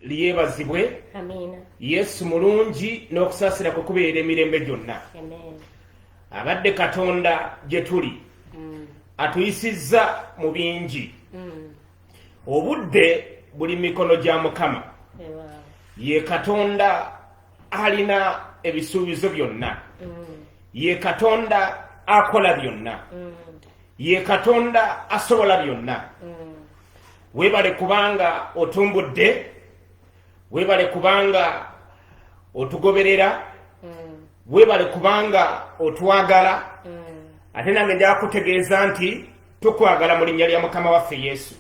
liyebazibwe yesu mulungi n'okusaasira kwe kubeera emirembe gyonna abadde katonda gye tuli mm. atuyisizza mu bingi mm. obudde buli mikono gya mukama ye katonda alina ebisuubizo byonna mm. ye katonda akola byonna ye katonda asobola byonna webale kubanga otumbudde webale kubanga otugoberera mm. webale kubanga otwagala mm. ate nange njakutegeeza nti tukwagala mu linnya lya mukama waffe yesu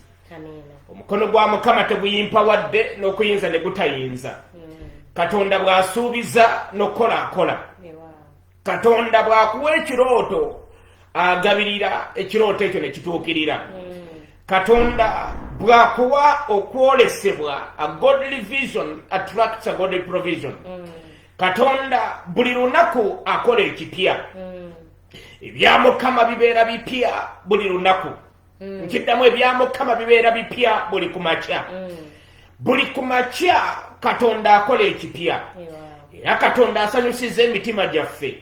omukono gwa mukama teguyimpa wadde n'okuyinza ne gutayinza mm. katonda bw'asuubiza n'okukola akola katonda bwakuwa ekirooto agabirira ekirooto ekyo nekituukirira katonda bwakuwa okwolesebwa a godly vision attracts a godly provision mm. katonda buli lunaku akola ekipya mm. ebya mukama bibeera bipya buli lunaku mm. nkiddamu ebya mukama bibeera bipya buli ku makya mm. buli ku makya katonda akola ekipya era katonda asanyusiza emitima gyaffe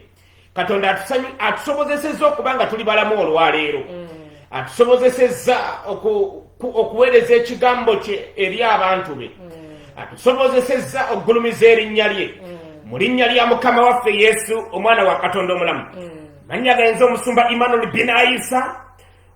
katonda atusobozesezza okuba nga tuli balamu olwaleero mm. atusobozesezza okuweereza ekigambo kye eri abantu be atusobozesezza okugulumiza erinnya lye mu linnya lya mukama waffe yesu omwana wa katonda omulamu mannya gaenza omusumba emmanuel binaisa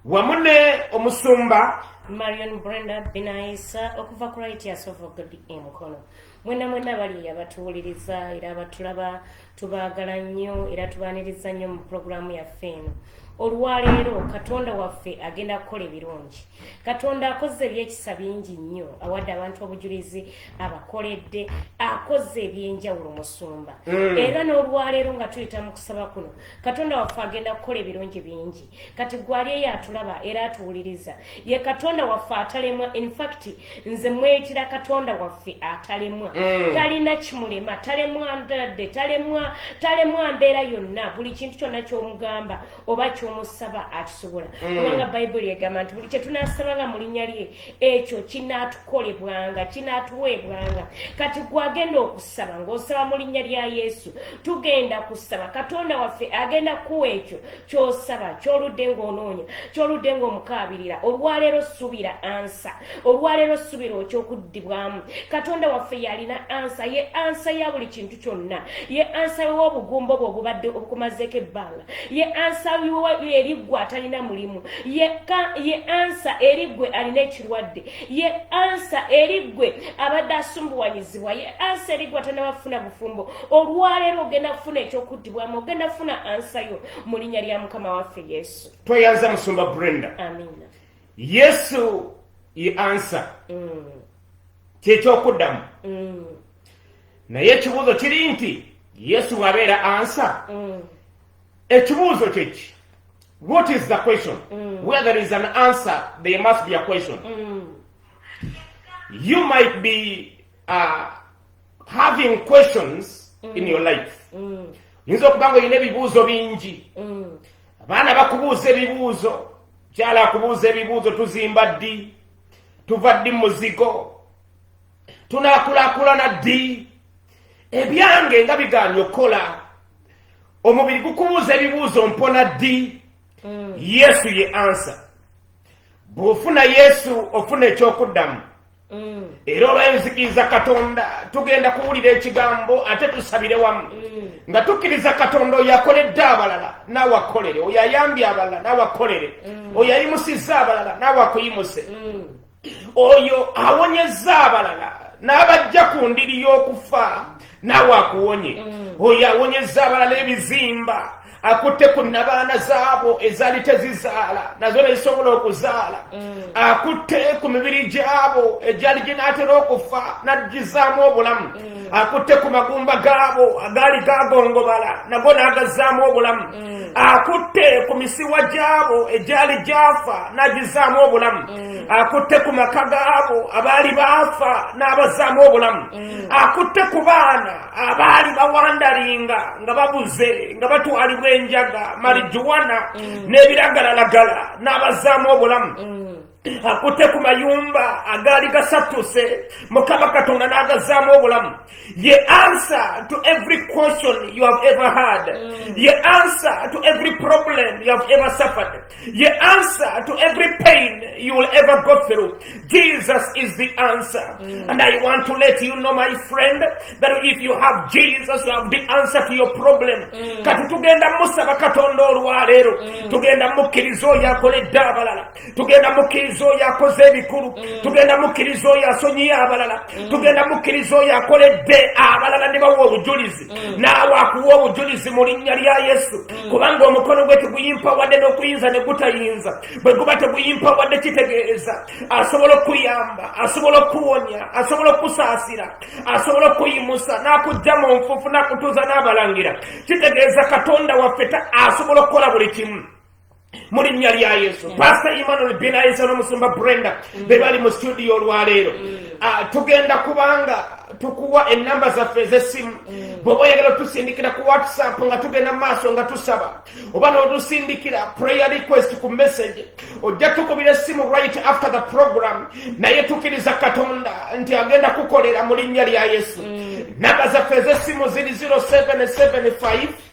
wamu ne omusumba marion brenda binaisa okuva ku righteous of god emukono mwena mwena bali abatuwuliriza era abatulaba tubaagala nnyo era tubaaniriza nnyo mu pulogulaamu yaffe eno olwaleero katonda waffe agenda kukola ebirungi katonda akoze ebyekisa bingi nnyo awadde abantu obujulizi abakoledde akoze ebyenjawulo musumba mm. era n'olwaleero nga tuyita mu kusaba kuno katonda waffe agenda kukola ebirungi bingi kati gwali eyo atulaba era atuwuliriza ye katonda waffe atalemwa infact nze mwekira katonda waffe atalemwa mm. talina kimulema talemwa ndadde talemwa talemwa mbeera yonna buli kintu kyonna kyomugamba oba kyomusaba akisobola mm. kubanga bayibuli egamba nti buli kyetunasabanga mu linnya lye ekyo kinaatukolebwanga kinaatuweebwanga kati gwagenda okusaba ng'osaba mu linnya lya yesu tugenda kusaba katonda waffe agenda kuwa ekyo ky'osaba ky'oludde ng'onoonya ky'oludde ng'omukaabirira olwaleero subira ansa olwaleero subira okyokuddibwamu katonda waffe yalina ansa ye ansa ya buli kintu kyonna ye ansa w'obugumba obwo obubadde obukumazeeko ebbanga ye ansa wiwo eri gwe atalina mulimu ye ansa eri gwe alina ekirwadde ye ansa eri gwe abadde asumbuwanyizibwa ye ansa eri gwe atalina bafuna bufumbo olwaleero ogenda kufuna ekyokuddibwamu ogenda kufuna ansa yo mu linnya lya mukama waffe yesu tweyanza musumba brenda amina yesu ye ansa mm. kyekyokuddamu mm. naye ekibuuzo kiri nti yesu bwabeera ansa mm. ekibuuzo kyeki what is the question mm. where there is an answer there must be a question mm. you might be uh, having questions mm. in your life mm. yinza okuba nga olina ebibuuzo bingi mm. abaana bakubuuza ebibuuzo kyala akubuuza ebibuuzo tuzimba ddi tuva ddi muzigo tunakulakulana ddi ebyange nga bigaanye okukola omubiri gukubuuza ebibuuzo mpona ddi mm. yesu ye ansa bw'ofuna yesu ofuna ekyokuddamu mm. era olwenzikiriza katonda tugenda kuwulira ekigambo ate tusabire wamu mm. nga tukkiriza katonda oyo akoledde abalala naawe akolere oyo ayambye abalala naawe akolere oyo ayimusizza abalala naawe akuyimuse oyo awonyezza abalala n'abajja ku ndiri y'okufa naawe akuwonye mm. oyo awonyezza abalala ebizimba akutte ku nabaana zaabo ezaali tezizaala nazo nezisobola okuzaala mm. akutte ku mibiri gyabo egyali ginaatera okufa n'agizaamu obulamu mm. akutte ku magumba gaabo agaali gagongobala nago n'agazzaamu obulamu mm. akutte ku misiwa gyabo egyali gyafa n'agizzaamu obulamu mm. akutte ku maka gaabo abaali baafa n'abazzaamu obulamu mm. akutte ku baana abaali bawandalinga nga babuze nga batwalibwa enjaga marijuwana n'ebiragalalagala n'abazzaamu obulamu akutte ku mayumba agaali gasattuse mukama katonda n'agazaamu obulamu ye answer to every question you have ever had mm. ye answer to every problem you have ever suffered ye answer to every pain you will ever go through jesus is the answer mm. and i want to let you know my friend that if you have jesus you have the answer to your problem mm. kati tugenda musaba katonda olwaleero tugenda mukkiriza oyo akoledde abalala tugenda mukkiriza oyo akoze ebikulu mm. tugenda mukkiriza oyo asonyiye abalala mm. tugenda mukkiriza oyo akoledde abalala ne bawa obujulizi mm. naawe akuwa obujulizi mu linnya lya yesu kubanga omukono gwe teguyimpa wadde n'okuyinza ne gutayinza bwe guba teguyimpa wadde kitegeeza asobola okukuyamba asobola okukuwonya asobola okukusaasira asobola okukuyimusa n'akujja mu nfuufu n'akutuuza n'abalangira kitegeeza katonda waffe asobola okukola buli kimu mu linnya lya yesu mm. pasita emmanuel binayisa n'omusumba brenda mm. be bali mu situdiyo olwaleero mm. ah, tugenda kubanga tukuwa enamba zaffe ez'essimu bweoba oyagala otusindikira ku whatsapp nga tugenda mu maaso nga tusaba oba notusindikira prayer request ku message ojja tukubira essimu right after the program naye tukiriza katonda nti agenda kukolera mu linnya lya yesu namba zaffe ez'essimu ziri 0775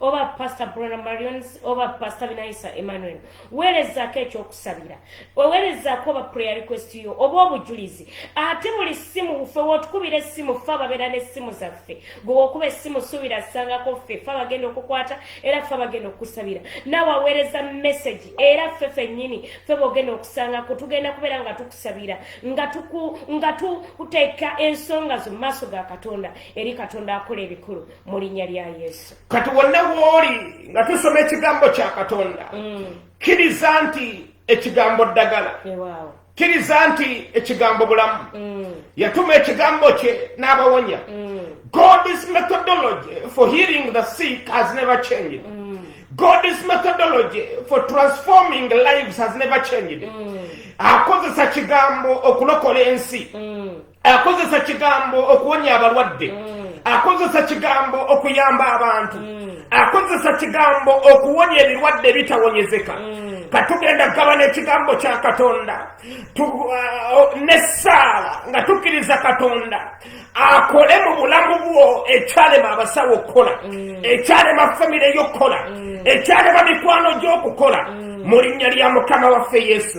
oba pastor brona marions oba pastor binaisa emmanuel weerezaako ekyokusabira oweerezaako oba prayer request yo oba obujulizi ate buli ssimu ffe wotukubira essimu ffe ababeera n'essimu zaffe gwewokuba essimu suubira asangako ffe ffe abagenda okukwata era ffe abagenda okukusabira naawe aweereza message era ffe fennyini ffe bogenda okusangako tugenda kubeera nga tukusabira nga tuteeka ensonga zo mu maaso ga katonda eri katonda akola ebikulu mu linnya lya yesu kati wonna wooli nga tusoma ekigambo kya katonda mm. kkiriza nti ekigambo ddagala kkiriza nti ekigambo bulamu mm. yatuma ekigambo kye n'abawonya mm. god's methodology for healing the sick has never changed god's methodology for transforming lives has never changed akozesa kigambo okulokola ensi akozesa kigambo okuwonya abalwadde mm. akozesa kigambo okuyamba abantu mm. akozesa kigambo okuwonya ebirwadde ebitawonyezeka mm. katugenda kugabana ekigambo kya katonda uh, nesaala nga tukkiriza katonda akole mu bulamu bwo ekyalema abasawo okukola ekyalema famire yokukola ekyalema mikwano gyokukola mu linnya lya mukama waffe yesu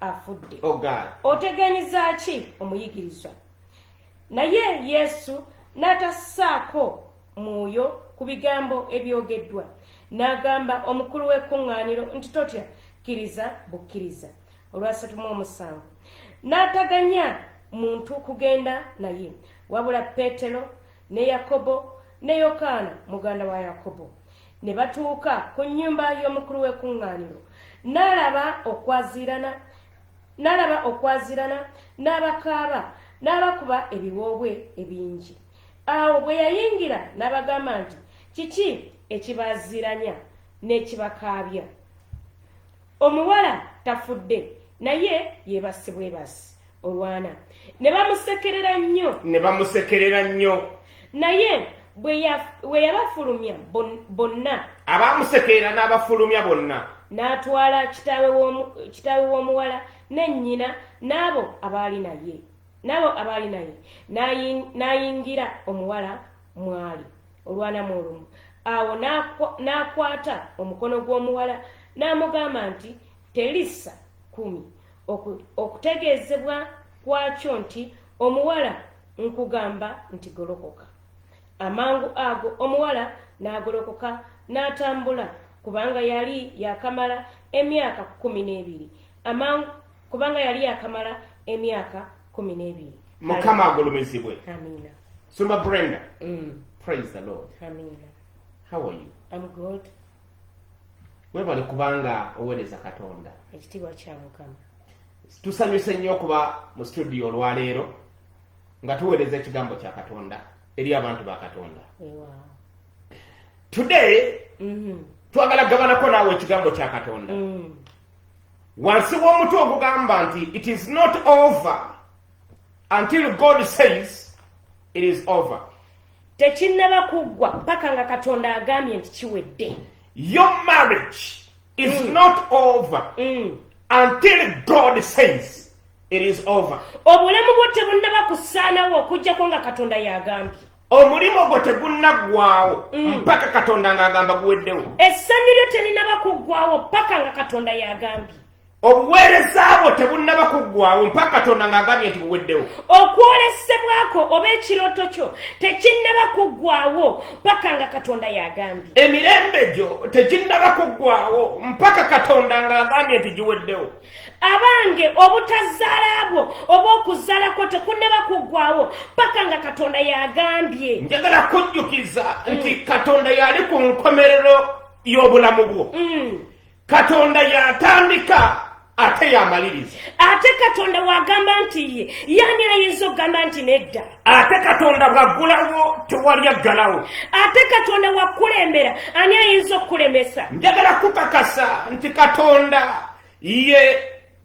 afudde oh, otegenyeza ki omuyigirizwa naye yesu n'atassaako mwoyo ku bigambo ebyogeddwa n'agamba omukulu w'ekkuŋŋaaniro nti totya kkiriza bukkiriza olwasatu mu omusanvu n'ataganya muntu kugenda naye wabula peetero ne Yakobo ne Yokaana muganda wa Yakobo ne batuuka ku nnyumba y'omukulu w'ekuŋŋaaniro n'alaba okwaziirana n'alaba okwaziirana n'abakaaba n'abakuba ebiwoobwe ebingi awo bwe yayingira n'abagamba nti kiki ekibaaziiranya n'ekibakaabya omuwala tafudde naye yebasi bwebasi olwana ne bamusekerera nnyo ne bamusekerera nnyo naye bwe yabafulumya bonna abamusekerera n'abafulumya bonna n'atwala kitaawe w'omuwala ne nnyina n'abo abaali naye n'abo abaali naye n'ayingira omuwala mwali olwanamu olumu awo n'akwata omukono gw'omuwala n'amugamba nti telisa kumi okutegeezebwa kwakyo nti omuwala nkugamba nti golokoka amangu ago omuwala n'agolokoka n'atambula kubanga yali yakamala emyaka kumi n'ebiri amangu kubanga yali yakamala emyaka kumi n'ebiri mukama agulumizibwe amiina sumba brenda mm. praise the lord amiina how are you i'm good webale kubanga owereza katonda ekitiibwa kya mukama tusanyuse nnyo okuba mu studio olwaleero nga tuweereza ekigambo kya katonda eri abantu ba katonda today mm-hmm. twagala gabanako naawe ekigambo kya katonda mm. wansi w'omuti ogugamba nti it is not over until god says it is over tekinnaba kuggwa mpaka nga katonda agambye nti kiwedde your marriage is mm. not over mm. until god says it is over obulamu bwo tebunnaba kusaanawo okuggyako nga katonda yagambye omulimu gwo tegunnaggwawo mm. mpaka katonda ng'agamba guweddewo essanyu lyo terinaba kuggwawo paka nga katonda yagambye obuweereza bwo tebunnaba kuggwawo mpaka katonda ng'agambye nti buweddewo okwolesebwako oba ekirooto kyo tekinnaba kuggwawo mpaka nga katonda yagambye emirembe gyo teginnaba kuggwawo mpaka katonda ng'agambye nti giweddewo abange obutazaala bwo oba okuzaala kwo tekunaba kuggwawo paka nga katonda yagambye njagala kujjukiza mm. nti katonda yali ku nkomerero y'obulamu bwo mm. katonda yatandika ate yamaliriza ate katonda wagamba nti ye yani ayinza okugamba nti nedda ate katonda bwaggulawo tewali aggalawo ate katonda wakukulembera ani ayinza okukulemesa njagala kukakasa nti katonda ye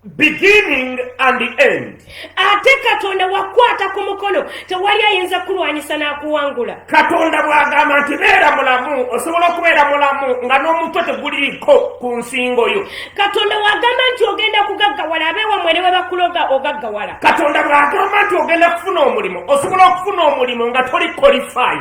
beginning and the end ate katonda wakwata ku mukono tewali ayinza kulwanyisa n'akuwangula katonda bw'agamba nti beera mulamu osobola okubeera mulamu nga n'omutwe teguliriko ku nsingo yo katonda wagamba nti ogenda kugaggawala abewamwe ne webakuloga ogaggawala katonda bw'agamba nti ogenda kufuna omulimu osobola okufuna omulimu nga toli kolifai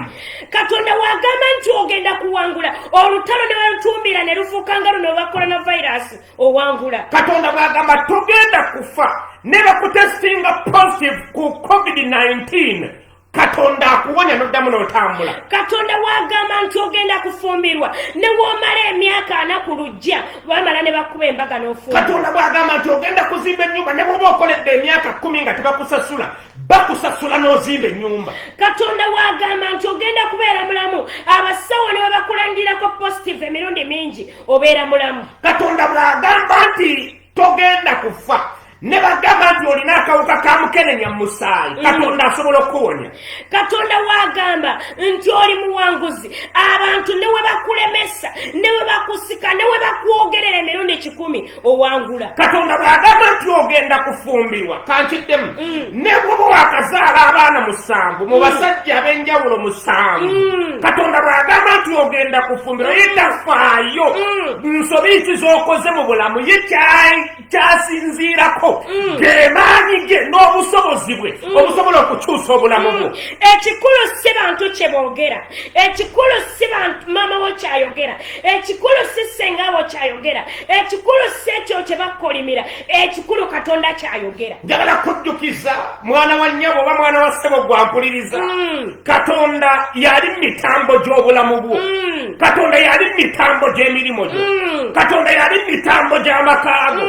katonda wagamba nti ogenda kuwangula olutalo ne balutumbira ne lufuuka nga luno olwa koronavirasi owangula katonda bw'agamba togenda kufa ne bakutestinga positive ku covid-19 katonda akuwonya noddamu n'otambula katonda wagamba nti ogenda kufumbirwa ne womala emyaka ana ku lujja bamala ne bakuba embaga n'ofumba katonda bwagamba nti ogenda kuzimba ennyumba ne bwoba okoledde emyaka kkumi nga tebakusasula bakusasula n'ozimba ennyumba katonda wagamba nti ogenda kubeera mulamu abasawo ne babakulandirako positive emirundi mingi obeera mulamu katonda bwagamba nti togenda kufa ne bagamba nti olina akawuka ka mukenenya mu musaayi mm. katonda asobola okukuwonya katonda waagamba nti oli muwanguzi abantu ne we bakulemesa ne we bakusika ne we bakwogerera emirundi kikumi owangula katonda bwagamba nti ogenda kufumbirwa kankiddemu mm. ne bwoba wakazaala abaana musanvu mu mm. basajja ab'enjawulo musanvu katonda bwagamba nti ogenda kufumbirwa yitafaayo nsobi ki z'okoze mu bulamu ye kyayi kyasinziirako mm. gemaanyi ge n'obusobozi bwe mm. obusobola okukyusa obulamu bwo mm. ekikulu si bantu kye boogera ekikulu si maama wo kyayogera ekikulu si senga wo kyayogera ekikulu si ekyo kye bakukolimira ekikulu katonda kyayogera njagala kujjukiza mwana wa nnyabo oba mwana wa ssebo gwampuliriza mm. katonda yali mitambo gy'obulamu bwo mm. katonda yali mitambo gy'emirimu gyo mm. katonda yali mitambo gy'amakaago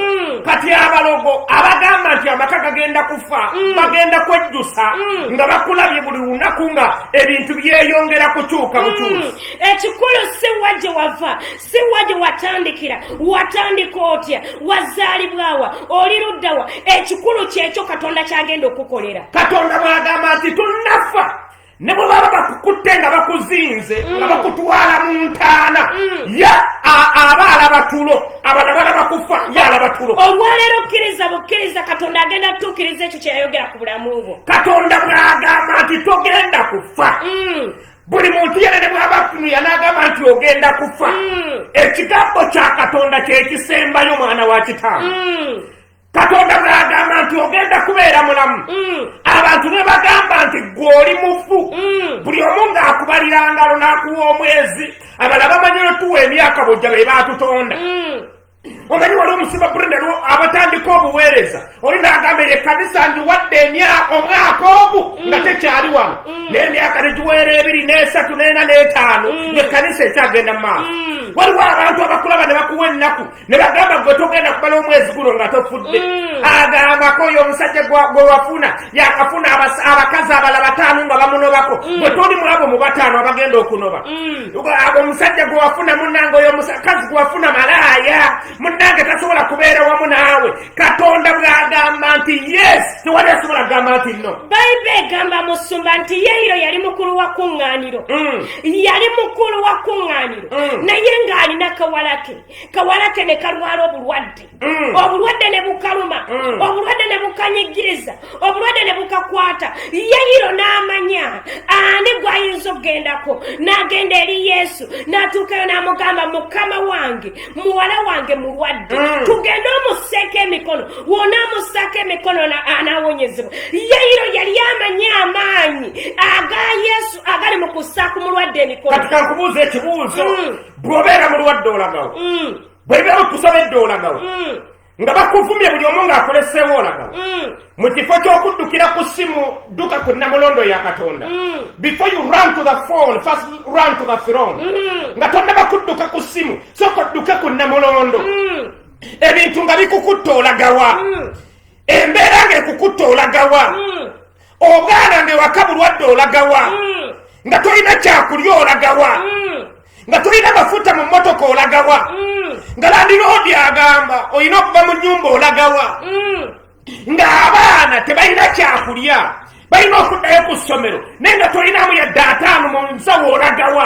kati abalogo abagamba nti amaka gagenda kufa bagenda kwejjusa nga bakulabye buli lunaku nga ebintu byeyongera kukyuka bukyusi ekikulu siwa gye wava si waje watandikira watandika otya wazaalibwawa oli luddawa ekikulu kyekyo katonda kyagenda okukukolera katonda bwagamba nti tunnafa ne bwe baba bakukutte nga bakuzinze mm. nga bakutwala mu ntaana mm. ye aba alaba tulo abana balaba kufa ye alaba tulo olwaleero okkiriza bukkiriza katonda agenda kutuukiriza ekyo kyeyayogera ku bulamu bwo katonda bwagamba nti togenda kufa mm. buli muntu yena ne bwaba akutunuya n'agamba nti ogenda kufa mm. ekigambo kya katonda kyekisembayo mwana wa kitaano mm. katonda bwagamba nti ogenda kubeera mulamu mm. abantu ne bagamba nti gwoli mufu buli omu ng'akubalira ngalo n'akuwa omwezi abala bamanyi notuwa emyaka bujja be baatutonda omanyi wali omusiba brenda lwo abatandika obuweereza oli nagamba eyo ekkanisa ndiwadde emyaka omwaka ogu mm. nga tekyali wano mm. naye emyaka negiweera ebiri n'esatu neena n'etaano mm. ng'ekkanisa ekyagenda mu maaso waliwo abantu abakulaba ne bakuwa ennaku ne bagamba gwe togenda kubala omwezi guno nga tofudde agambako oyo omusajja gwe wafuna yakafuna abakazi abala bataano nga bamunobako gwe toli mwabo mu bataano abagenda okunoba ago omusajja gwe wafuna munange oyo omusakazi gwe wafuna malaaya munange tasobola kubeera wamu naawe katonda bwagamba nti yes tewali asobola kugamba nti no bayibe egamba musumba nti yeiro yali mukulu wa kuŋŋaaniro mm. yali mukulu wa kuŋŋaaniro mm. naye ng'alina kawalake kawalake ne kalwala obulwadde Mm. obulwadde ne bukaluma mm. obulwadde ne bukanyigiriza obulwadde ne bukakwata yayiro n'amanya ani gw'ayinza okugendako n'agenda eri yesu n'atuukayo n'amugamba mukama wange muwala wange mulwadde mm. tugende omuseeko emikono wona amusaako emikono anawonyezebwa yayiro yali amanyi amaanyi aga yesu agali mu kusaako mulwadde emikono kati kankubuuza ekibuuzo bw'obeera mulwadde olagawo bwe biba bikusobedde olagawa mm. nga bakuvumye buli omu ng'akoleseewo olagawa mm. mu kifo ky'okuddukira ku ssimu dduka ku namulondo ya katonda mm. before you run to the phone first run to the throne nga tonnaba kudduka ku ssimu sooka odduke ku namulondo ebintu nga bikukutte olagawa embeera ng'ekukutte olagawa ogaana nga ewaka bulwadde olagawa mm. nga tolina kyakulya olagawa mm. nga tolina mafuta mu motoka olagawa mm. nga landiroodi agamba olina okuva mu nyumba olagawa nga abaana tebalina kyakulya balina okuddayo ku ssomero naye nga tolinamu yadde ataano mu nsawo olagawa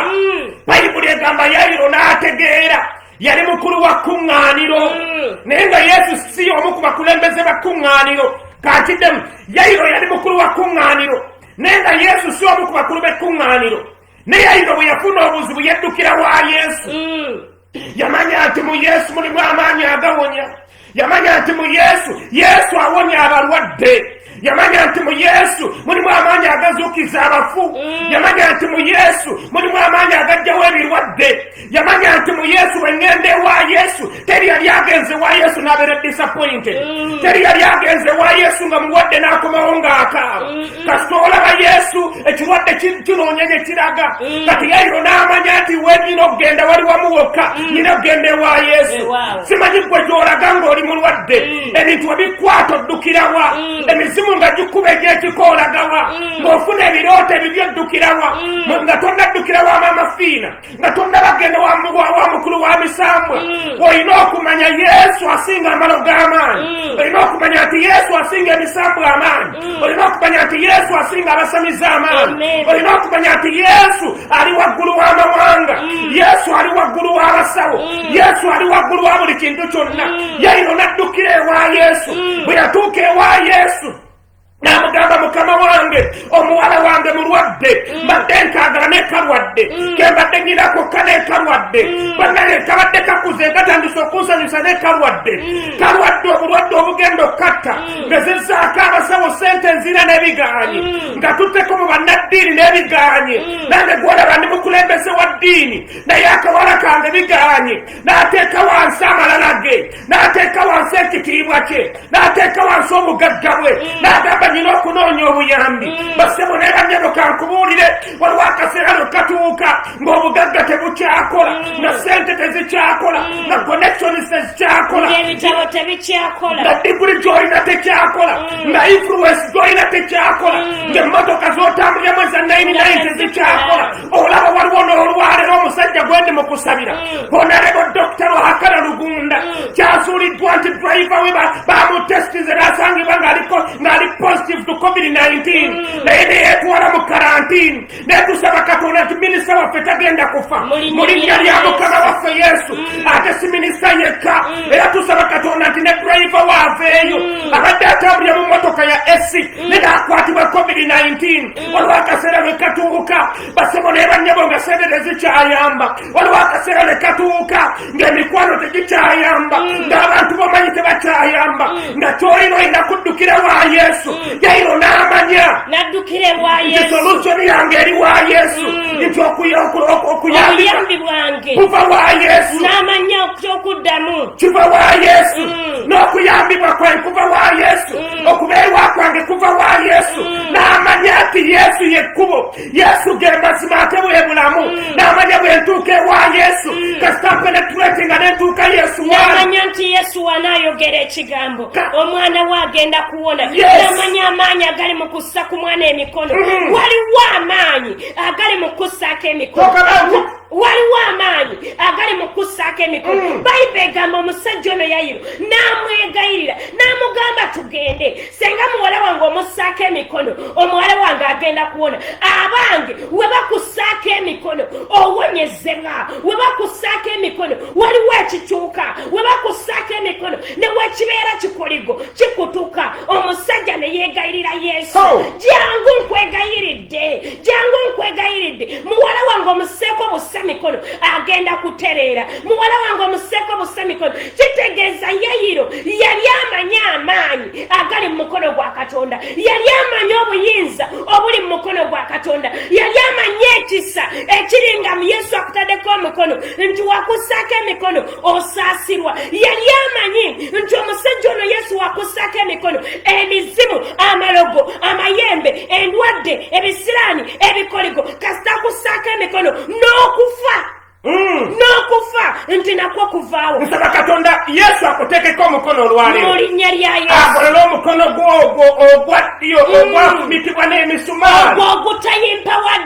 bayibuli egamba yayiro n'ategeera yali mukulu wa kkuŋŋaaniro mm. naye nga yesu si omu ku bakulembeze ba kkuŋŋaaniro kakiddemu yayiro yali mukulu wa kkuŋŋaaniro naye nga yesu si omu ku bakulu b'ekkuŋŋaaniro ne yayiro bwe yafuna obuzibu yeddukira wa yesu mm. yamanya nti mu yesu mulimu amaanyi agawonya yamanya nti mu yesu yesu awonya abalwadde yamanya nti mu yesu mulimu amaanyi agazuukiza abafu mm. yamanya nti mu yesu mulimu amaanyi agajjawo ebirwadde yamanya nti mu yesu bwengenda ewa yesu teri yali agenze wa yesu nabeera disappointed mm. teri yali agenze wa yesu nga mulwadde n'akomawo ng'akaaba mm. kasita olaba yesu ekirwadde kinoonya gye kiraga mm. kati yairo n'amanya nti wenyina okugenda wali wamu wokka mm. nyina okugenda ewa yesu simanyi gwe gyolaga ng'oli mulwadde mm. ebintu webikwata oddukirawa emizimu nga gikuba egyekikoolagawa ng'ofuna ebirooto ebibyo oddukirawa nga tonaddukirawa amaamafiina nga tonnabagenda wa mukulu wa misambwa mm. olina okumanya yesu asinga amalo g'amaanyi mm. olina okumanya nti yesu asinga emisambwa amaanyi mm. olina okumanya nti yesu asinga abasamiza amaanyi olina okumanya nti yesu ali waggulu w'amawanga yesu ali waggulu w'abasawo yesu ali waggulu wa buli kintu kyonna yayino naddukira ewa yesu bwe yatuuka ewa yesu namugamba mukama wange omuwala wange mulwadde mm. mbadde nkagala nekalwadde mm. kembadde nyina kokka nekalwadde mm. banaye kabadde kakuze katandisa okunsanyusa nekalwadde kalwadde obulwadde obugenda okukatta ngezezaako abasawo sente nzira nebigaanyi nga tuteko mu bannaddiini nebigaanyi nange gwolaba ndi mukulembeze wa ddiini naye akawala kange bigaanyi nateeka wansi amalala ge n'ateeka wansi ekitiibwa kye n'ateeka wansi obugagga bwe mm. n'agamba nyina okunoonya obuyambi mm. basebo ne banyabo kankubuulire waliwo akaseera lwe katuuka ng'obugagga tebukyakola mm. nga sente tezikyakola nga connections tezikyakola nga diguli gyolina tekyakola nga influence gyolina tekyakola ng'emmotoka z'otambulyamu eza 99 tezikyakola olaba waliwo n'olwalero omusajja gwe ndi mu kusabira mm. honarebo dokita lwakala lugunda mm. kyazuuliddwa nti driva we bamutestize nasangibwa ng'aliko ng'ali positive to covid-19 mm. naye neyetwala mu karantini netusaba katonda nti minisita waffe tagenda kufa mu linnya lya mukama waffe yesu ate si minisita yekka era tusaba katonda nti ne driva waaveeyo abadde atambulira mu motoka ya esi ne naakwatibwa covid-19 waliwo akaseera lwe katuuka basebo naye bannyabo nga sente tezikyayamba waliwo akaseera lwe katuuka ng'emikwano tegikyayamba mm. ng'abantu bomanyi tebakyayamba mm. nga kyolina olina kuddukira wa yesu mm. yairo n'amanya solusyoni yange eri wa yesu nti okuyambi bwange kuva wa yesu n'amanya kyokuddamu kiva wa yesu n'okuyambibwa kwe kuva wa yesu okubeerwa kwange kuva wa yesu mm. n'amanya nti yesu yekkubo yesu ge mazima ate bwe bulamu mm. n'amanya bwe ntuuka ewa yesu mm. kasita penetrate nga nentuuka yesu namanya nti yesu wanaayogera ekigambo omwana we agenda kuwona namanya amaanyi agali mu kussa ku mwana emikono waliwo amaanyi agali mu kussaako emikono waliwo amaanyi agali mu kussaako emikono mm. bayibuli egamba omusajja ono yayiro n'amwegayirira n'amugamba tugende senga muwala wange omussaako emikono omuwala wange agenda kuwona abange we bakussaako emikono owonyezebwa we bakussaako emikono waliwo ekituuka we bakussaako emikono ne wekibeera kikoligo kikutuka omusajja ne yeegayirira yesu oh. jangu nkwegayiridde jangu nkwegayiridde muwala wange omuseeko busa mikono agenda kutereera muwala wange omuseeko busa mikono kitegeeza yayiro yali amanyi amaanyi agali mu mukono gwa katonda yali amanyi obuyinza obuli mu mukono gwa katonda yali amanyi ekisa ekiringa mu yesu akutaddeko omukono nti wakusaako emikono osaasirwa yali amanyi nti omusajja ono yesu wakussaako emikono emizimu amalogo amayembe endwadde ebisiraani ebikoligo kasita akussaako emikono n'okufa hmm. n'okufa nti nakwo kuvaawo nsaba katonda yesu akuteekeko omukono olwalero mu linnya lya yesu akolole omukono gwo ogwo ogwa ddyo hmm. ogwafumitibwa n'emisumaali ogwo ogutayimpa wadde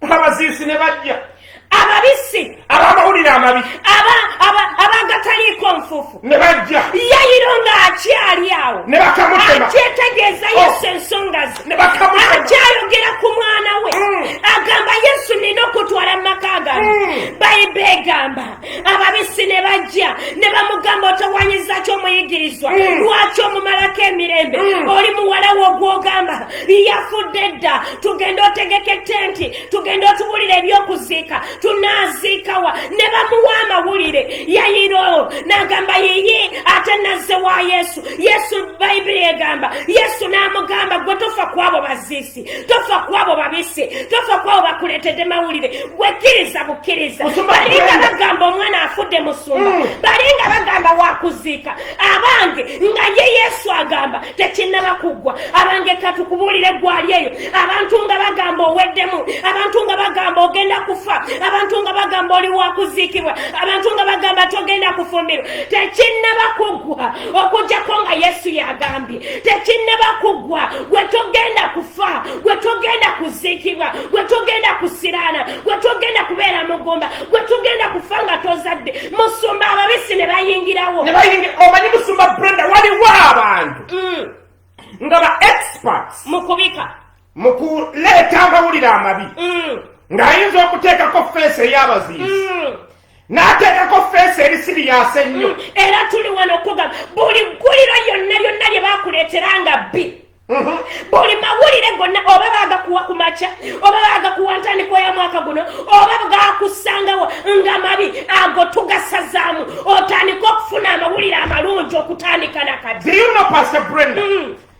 abaziisi ne bajja ababisi abamawulire amabi abagataliiko nfufu ne bajja yayiro ng'akyali awo ne bakamutema akyetegeeza oh. yesu ensonga ze ne bakamutema akyayogera ku mwana we mm. agamba yesu nina okutwala mu maka gange mm. bayiba egamba ababisi ne bajja ne bamugamba otawanyiza ki omuyigirizwa mm. lwaki omumalako emirembe mm. oli muwala wo ogwogamba yafudde dda tugenda otegeka ettenti tugenda otubulira ebyokuziika tunaaziikawa ne bamuwa amawulire yayiro n'agamba yiyi ate nazze wa yesu yesu bayibuli egamba yesu n'amugamba gwe tofa kwabo baziisi tofa kwabo babise tofa kwabo bakuletedde mawulire gwekiriza bukiriza balinga bagamba omwana afudde musumba mm. balinga bagamba wakuziika abange nga ye yesu agamba tekinaba kuggwa abange katukubulire gwali eyo abantu nga bagamba oweddemu abantu nga bagamba ogenda kufa abantu nga bagamba oli wakuziikibwa abantu nga bagamba togenda kufumbirwa tekinaba kuggwa okujjako nga yesu yagambye tekinnaba kuggwa gwe togenda kufa gwe togenda kuziikibwa gwe togenda kusiraana gwe togenda kubeera mugumba gwe togenda kufa nga tozadde musumba ababisi ne bayingirawo omanyi musumba brenda waliwo abantu mm. nga ba experts mukubika mu kuleeta amawulire amabi mm. ng'ayinza okuteekako feesi ey'abaziizi mm. n'ateekako feesi eri siriyasi ennyo mm. era tuli wano okugamba buli gguliro lyonna lyonna lye bakuleetera nga bbi mm-hmm. buli mawulire gonna oba bagakuwa ku makya oba bagakuwa ntandiko ya mwaka guno oba gakusangawo nga mabi ago tugasazaamu otandika okufuna amawulire amalungi okutandika nakati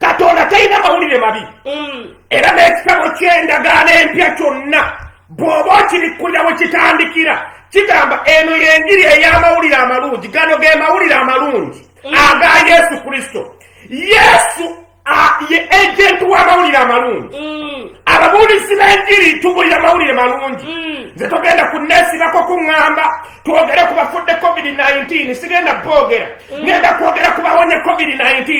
katonda talina mawulire mabi mm. era n'ekitabo ky'endagaano empya kyonna bw'oba okibikkulira we kitandikira kigamba eno y'enjiri ey'amawulire amalungi gano ge mawulire amalungi mm. aga yesu kristo yesu ye agenti w'amawulire amalungi mm. ababuulizi b'enjiri tubulira mawulire malungi nze togenda kunneesibako kuŋŋamba twogere ku bafudde covid-19 sigenda boogera mm. ngenda kwogera ku bawonye covid-19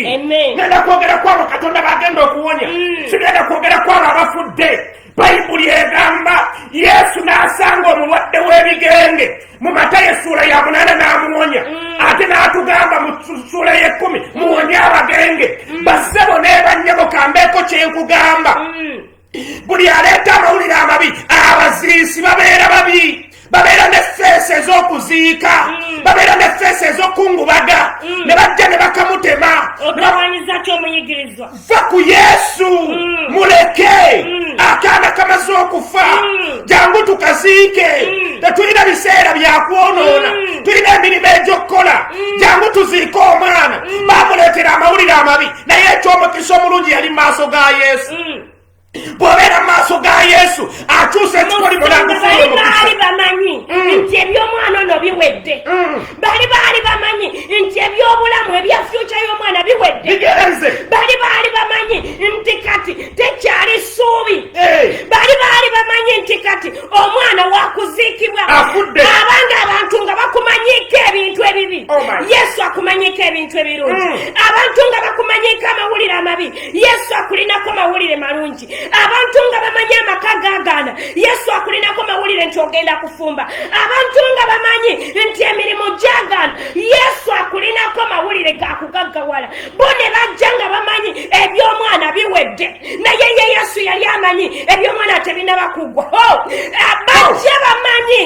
ngenda kwogera ku abo katonda bagenda okuwonya mm. sigenda kwogera ku abo abafudde bayibuli egamba yesu n'asanga omulwadde w'ebigenge mu mata yesuula ya munaana n'amuwonya mm. ate n'atugamba mu suula y'ekkumi muwonye abagenge bassebo n'ebanyabo kambeeko kyenkugamba buli aleeta amawulire amabi abaziisi babeera babi babeera ne feesi ez'okuziika mm. babeera ne feesi ez'okungubaga mm. ne bajja ne bakamutema va ku yesu mm. muleke akaana kamaze okufa jangu tukaziike tetulina biseera byakwonoona tulina emirimu egy'okukola jangu tuziike omwana bamuleetera amawulire amabi naye ekyomukisa omulungi yali maaso ga yesu mm. bw'obeera mu maaso ga yesu akyusa ekikolimo nagufuula omukisabaali bamanyi mm. nti eby'omwana ono biwedde mm. bali baali bamanyi nti eby'obulamu ebya fyuca y'omwana biwedde bali baali bamanyi nti kati tekyali ssuubi eh. bali baali bamanyi nti kati omwana wakuziikibwa abanga abantu nga bakumanyiiko ebintu ebibi oh yesu akumanyiiko ebintu ebirungi mm. abantu nga bakumanyiiko amawulire amabi yesu akulinako mawulire malungi abantu nga bamanyi amaka gagaana yesu akulinako mawulire nti ogenda kufumba abantu nga bamanyi nti emirimu gyagaana yesu akulinako mawulire gakugaggawala bo ne bajja nga bamanyi eby'omwana biwedde naye ye yesu yali amanyi ebyomwana tebinaba kugwa oh, bajja bamanyi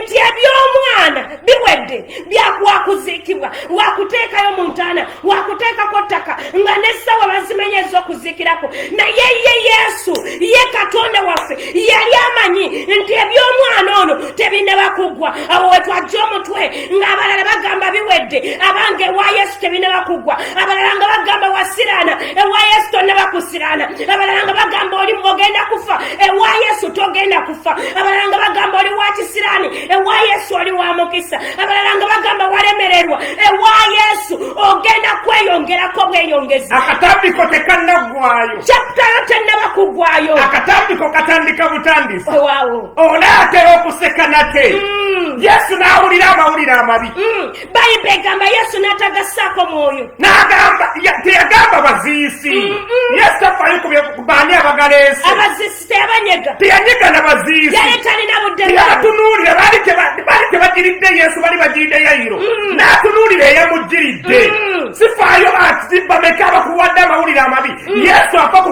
nti ebyomwana biwedde byakuwakuziikibwa wakuteekayo mu ntaana wakuteekako ttaka nga nessawa bazimanyi ezokuziikirako naye ye yesu ye katonda waffe yali amanyi nti ebyomwana ono tebinaba kugwa awo wetwajja omutwe ng'abalala bagamba biwedde abange ewa yesu tebinaba kugwa abalala nga bagamba wasiraana ewa yesu tonaba kusiraana abalala nga bagamba oli ogenda kufa ewa yesu togenda kufa abalala nga bagamba oli wa kisiraani ewa yesu oli wa mukisa abalala nga bagamba walemererwa ewa yesu ogenda kweyongerako bweyongezi akatambiko tekannagwayo kyakutayo tennaba kugwayo akatambiko katandika butandisi owawo onaatera okuseka nate mm. yesu n'awulira amawulire amabi mm. bayibuli egamba yesu n'atagassaako mwoyo n'agamba teyagamba baziisi yesu tafayo kubaani abagala ensi abaziisi teyabanyega teyanyega na baziisi yali talina buddeyatunuulira baali tebagiridde yesu bali bagiridde yayiro mm. n'atunuulira eyamuggiridde sifaayo ati bameka abakuwadde amawulire amabi yesu afa ku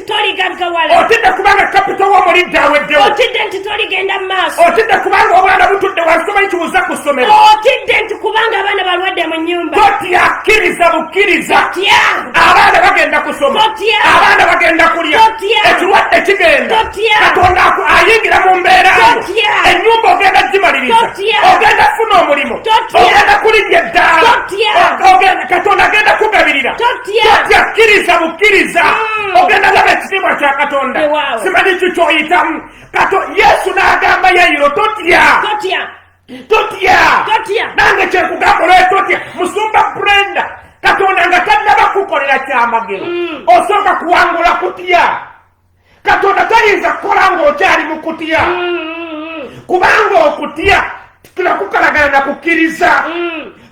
otidde kubanga kapito w'omulidde aweddewo otidde nti toligenda mu maaso otidde kubanga obwana butudde wansi tomanyi kibuza ku ssomero otidde nti kubanga abaana balwadde mu nnyumba totya kkiriza bukkiriza abaana bagenda kusoma abaana bagenda kulya ekirwadde kigenda katonda ayingira mu mbeera ennyumba ogenda gimaliriza ogenda funa omulimu ogenda kulinnya eddaala katonda agenda kugabirira totya kkiriza bukkiriza mm. ogenda laba ekitiibwa kya katonda simanyi kyo kyoyitamu kato yesu n'agamba yayiro totya totya nange kyekugamba olwoyo totya musumba brenda katonda nga tannaba kukolera kyamagero mm. osooka kuwangula kutya katonda tayinza kukola ng'okyali mu kutya kubanga okutya tulakukalagana na kukkiriza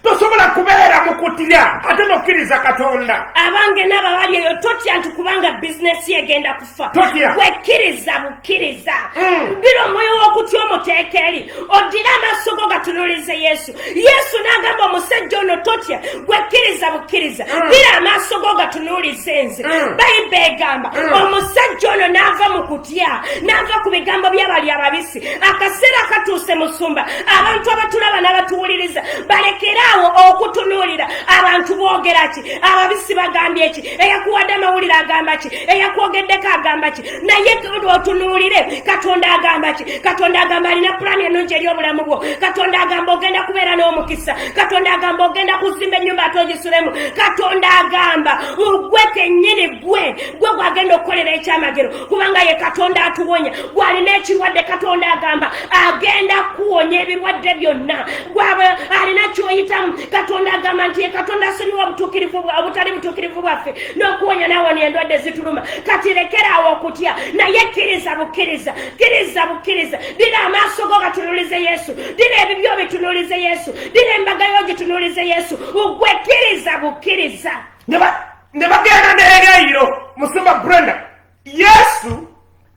tosobola kubeera mu kutya ate nokkiriza katonda abange naaba bali eyo totya nti kubanga bizinesi egenda kufa totya wekkiriza bukkiriza mm. bira omwoyo w'okutya omuteeka eri oddire amaaso go gatunulize yesu yesu n'agamba omusajja ono totya gwekkiriza bukkiriza mm. bira amaaso go gatunuuliza enze mm. bayiba egamba mm. omusajja ono n'ava mu kutya n'ava ku bigambo by'abali ababisi akaseera katuuse musumba abantu abatulaba n'abatuwuliriza balekere awo okutunuulira abantu boogera ki ababisi bagambye ki eyakuwadde amawulire agamba ki eyakwogeddeko agamba ki naye otunuulire katonda agamba ki katonda agamba alina pulaani ennungi eri obulamu bwo katonda agamba ogenda kubeera n'omukisa katonda agamba ogenda kuzimba ennyumba ate ogisulemu katonda agamba mugwe kennyini gwe gwe gwagenda okukolera ekyamagero kubanga ye katonda atuwonya gwalina ekirwadde katonda agamba agenda kuwonya ebirwadde byonna gwaba alina kyoyitamu katonda agamba nti ye katonda asonyiwa obutuukirivu obutali butuukirivu bwaffe n'okuwonya nawona endwadde zituluma kati lekeraawo okutya naye kkiriza bukkiriza kkiriza bukkiriza dira amaaso go gatunulize yesu dira ebibyo bitunulize yesu dira embaga yo gitunulize yesu ugwe kkiriza bukkiriza ne bagenda neereyiro musumba brenda yesu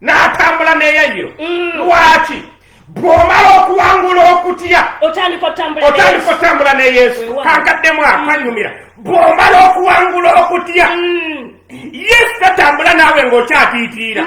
n'atambula n'eyayiro mm. lwaki bw'omala okuwangula okutya otandika otambula ne yesu kankaddemu akwanyumira mm. bw'omala okuwangula okutya mm. yesu tatambula naawe ng'okyatiitiira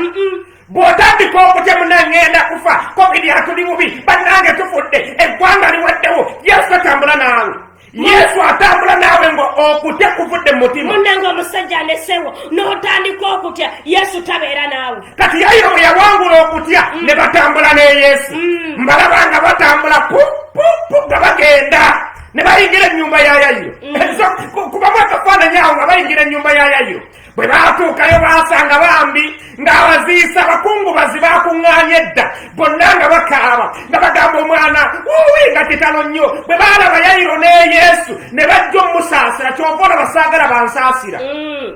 bw'otandika okutya munangenda kufa covid atuli bubi bannange tufudde eggwanga liwaddewo yesu tatambula naawe yesu atambula naawe nga okutya kuvudde mumutima munange omusajja anesewo notandika okutya yesu tabeera naawe kati yayo bwe yawangula okutya mm. ne batambula ne yesu mm. mbalaba nga batambula pupupu nga bagenda ne bayingira ennyumba ya yayiro mm. kubamu akafaananyi awo nga bayingira ennyumba ya yayiro bwe baatuukayo baasanga bambi ng'abaziisa abakungubazi baakuŋŋaanye edda bonna nga bakaaba nga bagamba omwana wuwi nga kitalo nnyo bwe baalaba yayiro ne yesu ne bajja omusaasira kyova olaba saagala bansaasira mm.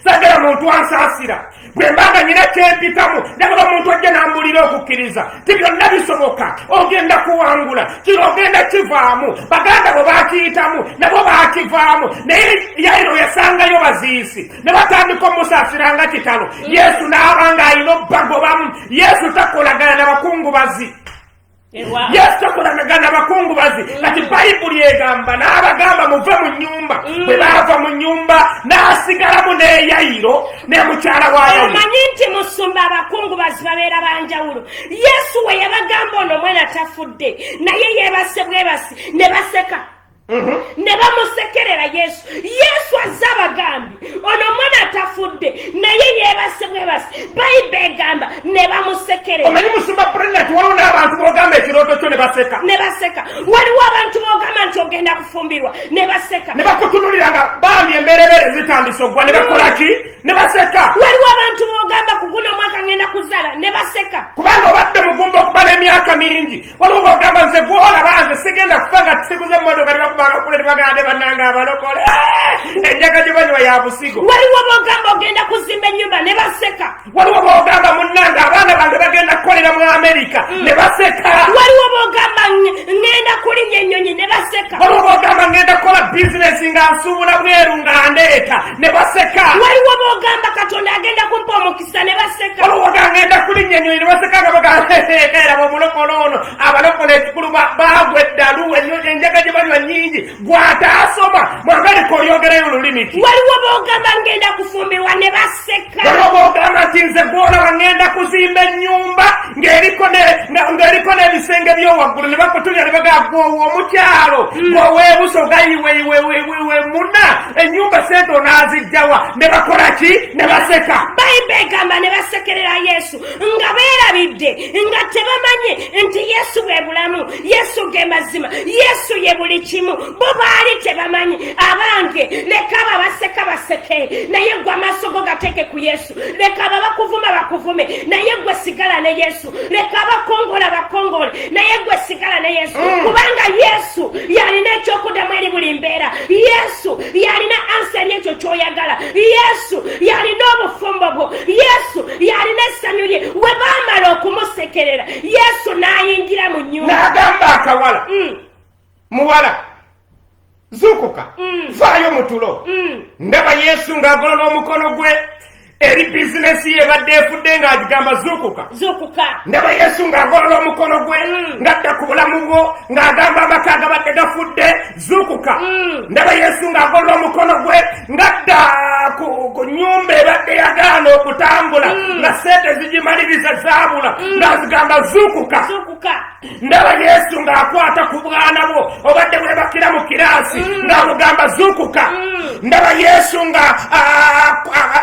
saagala muntu ansaasira bwe mbaga nyina kyempitamu nagaba muntu ajja n'ambulira okukkiriza ti byonna bisoboka ogenda kuwangula kino ogenda kivaamu baganda bwe bakiyitamu nabo bakivaamu naye yairo yasangayo baziisi ne batandika omusaasira nga kitalo yesu n'aba nga alina obubagobamu yesu takolagana na bakungubazi yesu takolagana na bakungubazi mm. kati bayibuli egamba n'abagamba muve mu nyumba mm. bwe baava mu nyumba n'asigalamu n'eyayiro ne mukyala wayo omanyi nti musumba abakungu bazibabeera banjawulo yesu we yabagamba ono omwana tafudde naye yebase bwebasi ne baseka mhm. ne bamusekerera yesu yesu azze abagambi ono omwana atafudde naye yebase bwebasi bayiba egamba ne bamusekerera omanyi musumba president waliwo n'abantu bogamba ekirooto kyo ne baseka ne baseka waliwo abantu bogamba nti ogenda kufumbirwa ne baseka ne bakutunulira nga bambi emberebere zitandise ogwa ne bakola ki ne baseka waliwo abantu bogamba kuguna omwaka ngenda kuzala ne baseka kubanga obadde mugumba okuba n'emyaka mingi waliwo bogamba nze gwolaba nze sigenda kufa nga tusiguza emotoka ne bakubanga kule ne bagala ne bananga abalokole eh! enjaga gye banywa ya busigo waliwo bogamba ogenda kuzimba ennyumba ne baseka waliwo bogamba munange abaana bange bagenda kukolera mu amerika mm. ne baseka waliwo bogamba ngenda kulinya ennyonyi ne baseka waliwo bogamba ngenda kukola bizinesi nga nsuubula bweru nga ndeeta ne baseka waliwo bogamba katonda agenda kumpa omukisa ne baseka waliwo bogamba ngenda kulinya ennyonyi ne baseka nga bagaeeraba omulokola ono abalokola ekikulu bagwa eddalu enjaga gye banywa nyingi gwataasoma mwagalika oyogerayo olulimi ki waliwo bogamba ngenda kufumbirwa ne baseka waliwo bogamba nti nze gwolaba ngenda kuzimba ennyumba ng'eriko n'ebisenge byowaggulu ne bakutunya ne bagaa gwowa omukyalo hmm. gwoweebusa ogayiweiweiweiwe muna ennyumba sente onaazijjawa ne bakola ki ne baseka bayibuli egamba ne basekerera yesu nga beerabidde nga tebamanye nti yesu bwe bulamu yesu ge mazima yesu ye buli kimu bo baali tebamanyi abange leka abo abaseka baseke naye gwe amaaso go gateeke ku yesu leka abo bakuvuma bakuvume naye gwe sigala ne yesu leka abakongola bakongole naye gwe sigala ne yesu mm. kubanga yesu yalina ekyokuddamu eri buli mbeera yesu yalina ansa eri ekyo kyoyagala yesu yalina obufumbo bwo yesu yalina essanyu lye we baamala okumusekerera yesu n'ayingira mu nyumba n'agamba akawala mm. muwala zuukuka mm. vaayo mu tulo mm. ndaba yesu ng'agolola omukono gwe eri bizinesi ye badde efudde ng'agigamba zuukuka zuukuka ndaba yesu ng'agolola omukono gwe ng'adda ku bulamu bwo ng'agamba amaka agabadde gafudde zuukuka mm. ndaba yesu ng'agolola omukono gwe ngadda ku nyumba ebadde yagaana okutambula mm. nga sente zigimaliriza zaabula mm. ng'azigamba zuukuka ndaba yesu ng'akwata ku bwana bwo obadde bwebakira mu kiraasi ng'amugamba zuukuka ndaba yesu nga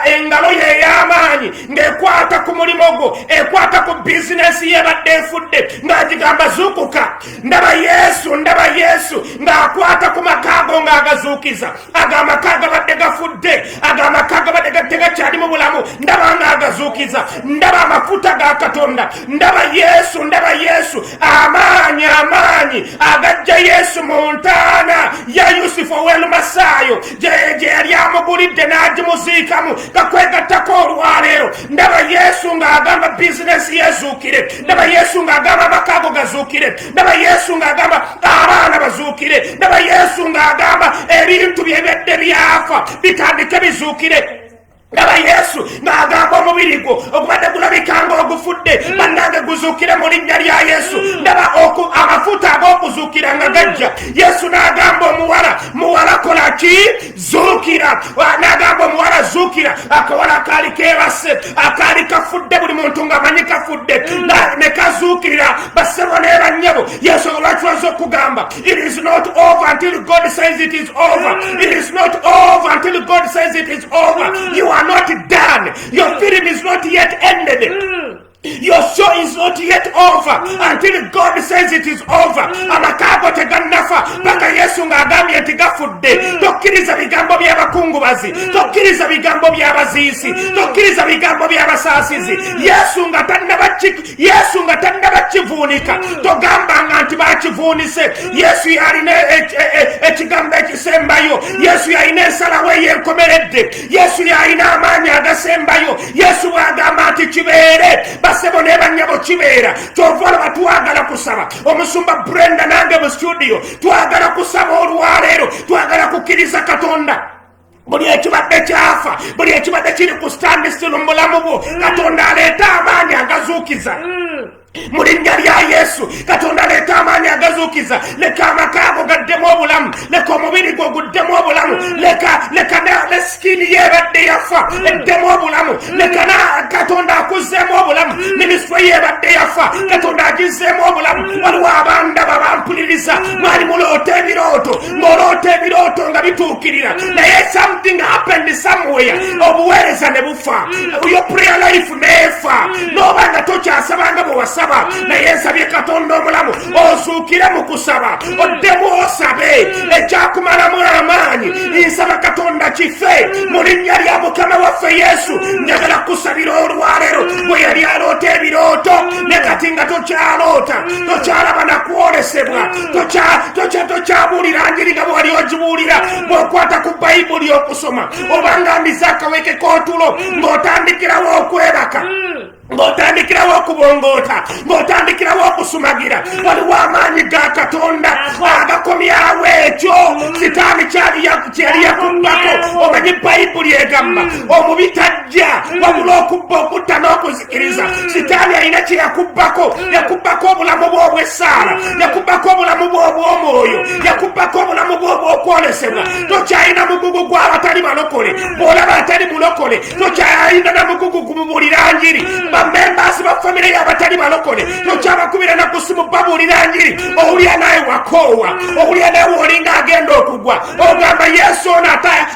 engalo ye ey'amaanyi ng'ekwata ku mulimu gwo ekwata ku bizinesi yebadde efudde ng'agigamba zuukuka ndaba yesu ndaba yesu ng'akwata ku makaago ng'agazuukiza ago amaka gabadde gafudde ago amaka gabadde gadde gakyali mu bulamu ndaba ng'agazuukiza ndaba amafuta ga katonda ndaba yesu ndaba yesu amaanyi amaanyi agajja yesu mu ntaana ya yusufu ow'elumasaayo gye yali amugulidde n'agimuziikamu kakwegattako olwaleero ndaba yesu ng'agamba bizinesi yezuukire ndaba yesu ng'agamba amakaago gazuukire ndaba yesu ng'agamba abaana bazuukire ndaba yesu ng'agamba ebintu byebedde byafa bitandike bizuukire ndaba yesu ng'agamba omubiri gwo ogubadde gulabika nga ogufudde mm. bannange guzuukire mu linnya lya yesu mm. ndaba amafuta ag'okuzuukira nga gajja yesu n'agamba omuwala muwala kola ki zuukira nagamba omuwala zuukira akawala akaali kebase akaali kafudde buli muntu nga manyi kafudde mm. ne kazuukirira basebo ne banyabo yensonga lwaki waza okugamba it is not over until god says it is over mm. it is not over until god says it is over mm. you are not done your film is not yet ended Your show is not yet over until God says it is over. Amakago tegannafa paka Yesu ng'agambye nti gafudde. Tokkiriza bigambo by'abakungubazi, tokkiriza bigambo by'abaziisi, tokkiriza bigambo by'abasaasizi. Yesu nga tannaba Yesu nga tannaba kivuunika, togambanga nti bakivuunise. Yesu yalina e- e- e- ekigambo ekisembayo. Yesu yalina ensalawo eyenkomeredde. yesu yalina amaanyi agasembayo yesu bwagamba nti kibeere basebo ne banyabo kibeera kyova olaba twagala kusaba omusumba brenda nange mu studio twagala kusaba olwaleero twagala kukkiriza katonda buli ekibadde kyafa buli ekibadde kiri ku standistil mu bulamu bwo mm. katonda aleeta amaanyi agazuukiza mm. mu linnya lya yesu katonda leeta amaanyi agazuukiza leka amaka ago gaddemu obulamu leka omubiri gwo guddemu obulamu leka leka ne sikiini ye ebadde yafa eddemu obulamu leka na katonda akuzzeemu obulamu minisitule ye ebadde yafa katonda agizzeemu obulamu waliwo abandaba bampuliriza mwali muloota ebirooto ng'oloota ebirooto nga bituukirira naye something happened somewhere obuweereza ne bufa yo prayer life meefa hmm. n'oba nga tokyasaba nga bwe wasaba hmm. naye nsabye katonda omulamu hmm. ozuukire mu kusaba oddemu osabe ekyakumalamu amaanyi nsaba katonda kife mu linnya lya mukama waffe yesu njagala kusabira olwaleero bwe yali aloota ebirooto ne kati nga tokyaloota tokyalaba nakwolesebwa tokyabuulira njiri nga bwewali ogibuulira bw'okwata ku bayibuli okusoma obanga mbize akaweke k'otulo mm. ng'otandikirawo okwebaka mm. ng'otandikirawo okubongoota ng'otandikirawo okusumagira mm. waliwo amaanyi ga katonda agakomyawo ekyo sitaani kyali yakubbako omanyi bayibuli egamba omubi tajja wabula okubba okutta n'okuzi kiriza sitaani alina kye yakubbako yakubbako obulamu bw'obwessaala yakubbako obulamu bw'obw'omwoyo yakubbako obulamu bw'obwokwolesebwa tokyalina mugugu gw'abatali balokole bw'olaba atali mulokole tokyalina na mugugu gumubuulira njiri bamembaasi ba famire y'abatali balokole tokyabakubira na kusimu babuulira njiri owulira naye wakoowa owulira naye wolinga agenda okugwa ogamba yesu ono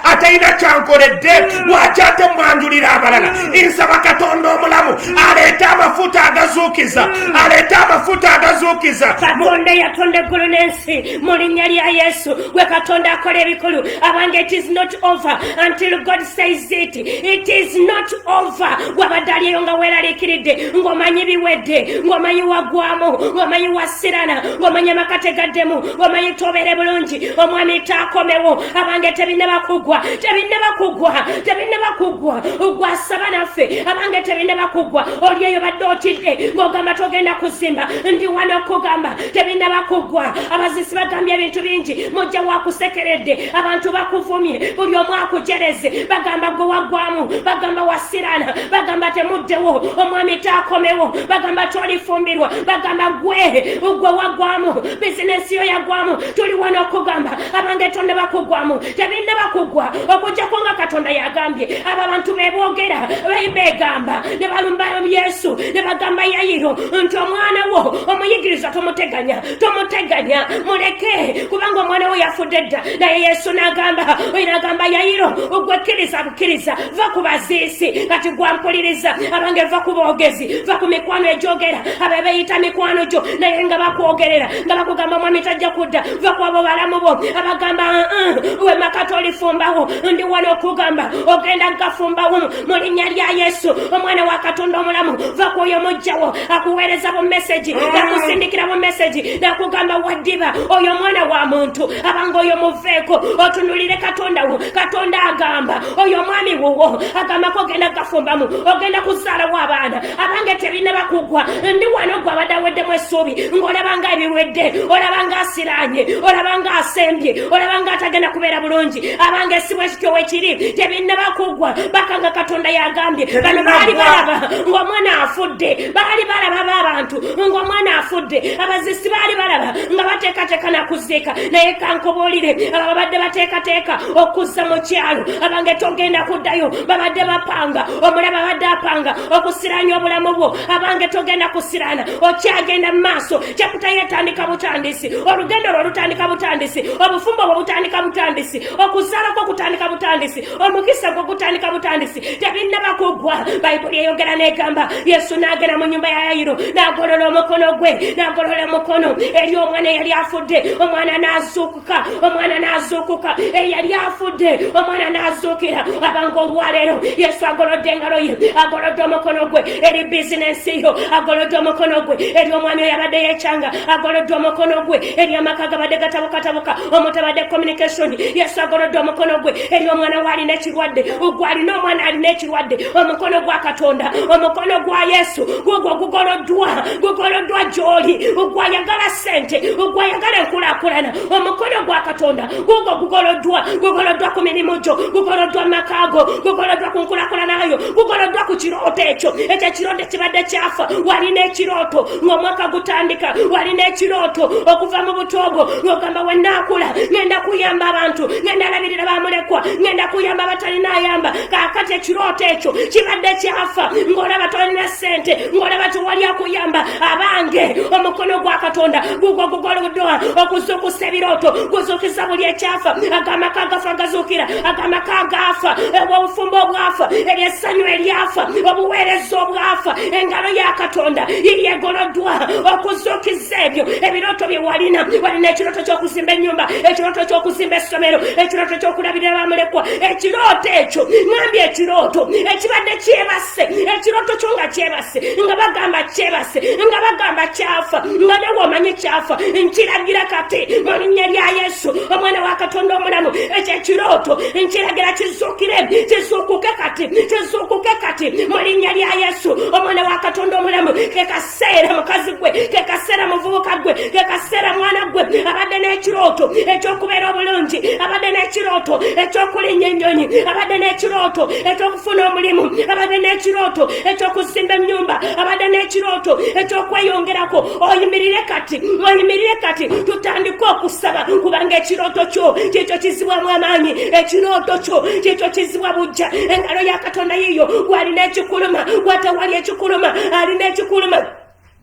atayina kyankoledde lwaki ate mwanjulira abalala nsaba katonda omulamu aleete amafuta agazuukiza aleete amafuta agazuukiza katonda eyatonda eggulu n'ensi mu linnya lya yesu gwe katonda akola ebikulu abange it is not over until god says it it is not over wabadde aliyo nga weeraliikiridde ng'omanyi biwedde ng'omanyi wagwamu ng'omanyi wasirana ng'omanyi amakategaddemu ng'omanyi tobeere bulungi omwami taakomewo abange tebinaba kugwa tebinaba kugwa tebinaba kugwa ogwasaba naffe abange tebinaba kugwa oli eyo badde otidde ng'ogamba togenda kuzimba ndi wano okugamba tebinaba kugwa abazisi bagambye ebintu bingi mujja wakusekeredde abantu bakuvumye buli omu akujereze bagamba gwe waggwamu bagamba wasirana bagamba temuddewo omwami taakomewo bagamba tolifumbirwa bagamba gwe gwe waggwamu bizinesi yo yaggwamu tuli wano okugamba abange tonnaba kuggwamu tebinnaba kuggwa okujjako nga katonda yagambye abo abantu beboogera beegamba ne balumba yesu ne bagamba yayiro nti omwana wo omuyigiriza tomuteganya tomuteganya muleke kubanga omwana wo yafudde dda naye yesu n'agamba oyo n'agamba yayiro ogwekkiriza bukkiriza va ku baziisi kati gwampuliriza abange va ku boogezi va ku mikwano egyogera abe beeyita mikwano gyo naye nga bakwogerera nga bakugamba omwami tajja kudda va kwabo balamu bo abagamba uh-uh, we makati olifumbawo ndi wano okugamba ogenda nkafumbawo mu linnya lya yesu omwana wa katonda omulamu va kwoyo mujjawo akuweereza bu meseji mm. nakusindikira bu meseji nakugamba waddiba oyo omwana wa muntu abanga oyo muveeko otunulire katonda wo katonda agamba oyo omwami wuwo agambako ogenda kafumbamu ogenda kuzaalawo abaana abange tebinaba kugwa ndi wano gwe abadde aweddemu essuubi ng'olabanga ebiwedde olabanga asiraanye olabanga asembye olabanga atagenda kubeera bulungi abange esimu ekityo wekiri tebinaba kugwa bakanga katonda yagambye bano baali balaba ng'omwana afudde baali balaba b'abantu ng'omwana afudde abazisi baali balaba nga bateekateeka nakuziika naye kankubuulire aba babadde bateekateeka okuzza mu kyalo abange togenda kuddayo babadde bapanga omulaba abadde apanga okusiranya obulamu bwo abange togenda kusirana okyagenda mu maaso kyakuta yetandika butandisi olugendo lwo lutandika butandisi obufumbo bwo butandika butandisi okuzaala kwo kutandika butandisi omukisa gwo gutandika butandisi tebinnaba kuggwa bayibuli eyogera n'egamba yesu n'agenda mu nyumba ya yayiro n'agolola omukono gwe n'agolola omukono eri omwana eyali afudde omwana n'azuuka omwana n'azuukuka eyali afudde omwana n'azuukira abanga olwaleero yesu agolodde engalo ye agolodde omukono gwe eri bizinensi yo agolodde omukono gwe eri omwami oyo abadde yekyanga agolodde omukono gwe eri amaka gabadde gatabukatabuka omutabadde communication yesu agolodde omukono gwe eri omwana waalina ekirwadde ogwalina omwana alina kirwadde omukono gwa katonda omukono gwa yesu gugwo gugoloddwa gugoloddwa gyoli ogwayagala sente ogwayagala enkulakulana omukono gwa katonda gugwo gugoloddwa gugoloddwa ku mirimu gyo gugoloddwa makaago gugoloddwa ku nkulakulanayo gugoloddwa ku kirooto ekyo ekyo ekirooto kibadde kyafa walina ekirooto ngaomwaka gutandika walina ekirooto okuva mu butoogo ngaogamba wenaakula ngenda kuyamba abantu ngenda alabirira bamulekwa ngenda kuyamba abatalina ayamba kakati ekirooto ekyo kibadde kyafa ng'olaba tolina ssente ng'olaba tewali akuyamba abange omukono gwa katonda gugwo gugoludwa okuzuukusa ebirooto kuzuukiza buli ekyafa agamaka agafa gazuukira agamaka agaafa obufumbo obwafa eryessanyu eryafa obuweereza obwafa engalo ya katonda yegoloddwa okuzuukiza ebyo ebirooto bye walina walina ekirooto ky'okuzimba ennyumba ekirooto ky'okuzimba essomero ekirooto ky'okulabirira bamulekwa ekirooto ekyo mwambi ekirooto ekibadde kyebasse ekirooto kyo nga kyebasse nga bagamba kyebasse nga bagamba kyafa nga newe omanye kyafa nkiragira kati mu linnya lya yesu omwana wa katonda omulamu ekyo ekirooto nkiragira kizuukire kizuukuke kati kizuukuke kati mu linnya lya yesu omwana wa katonda omulamu kekasi seera mukazi gwe kekaseera muvubuka gwe kekaseera mwana gwe abadde n'ekirooto ekyokubeera obulungi abadde n'ekirooto ekyokulinya ennyonyi abadde n'ekirooto ekyokufuna omulimu abadde n'ekirooto ekyokuzimba ennyumba abadde n'ekirooto ekyokweyongerako oyimirire kati oyimirire kati tutandike okusaba kubanga ekirooto kyo kyekyo kizibwamu amaanyi ekirooto kyo kyekyo kizibwa bujja engalo yaka katonda yiyo gwalina ekikuluma watawali ekikuluma alina ekikuluma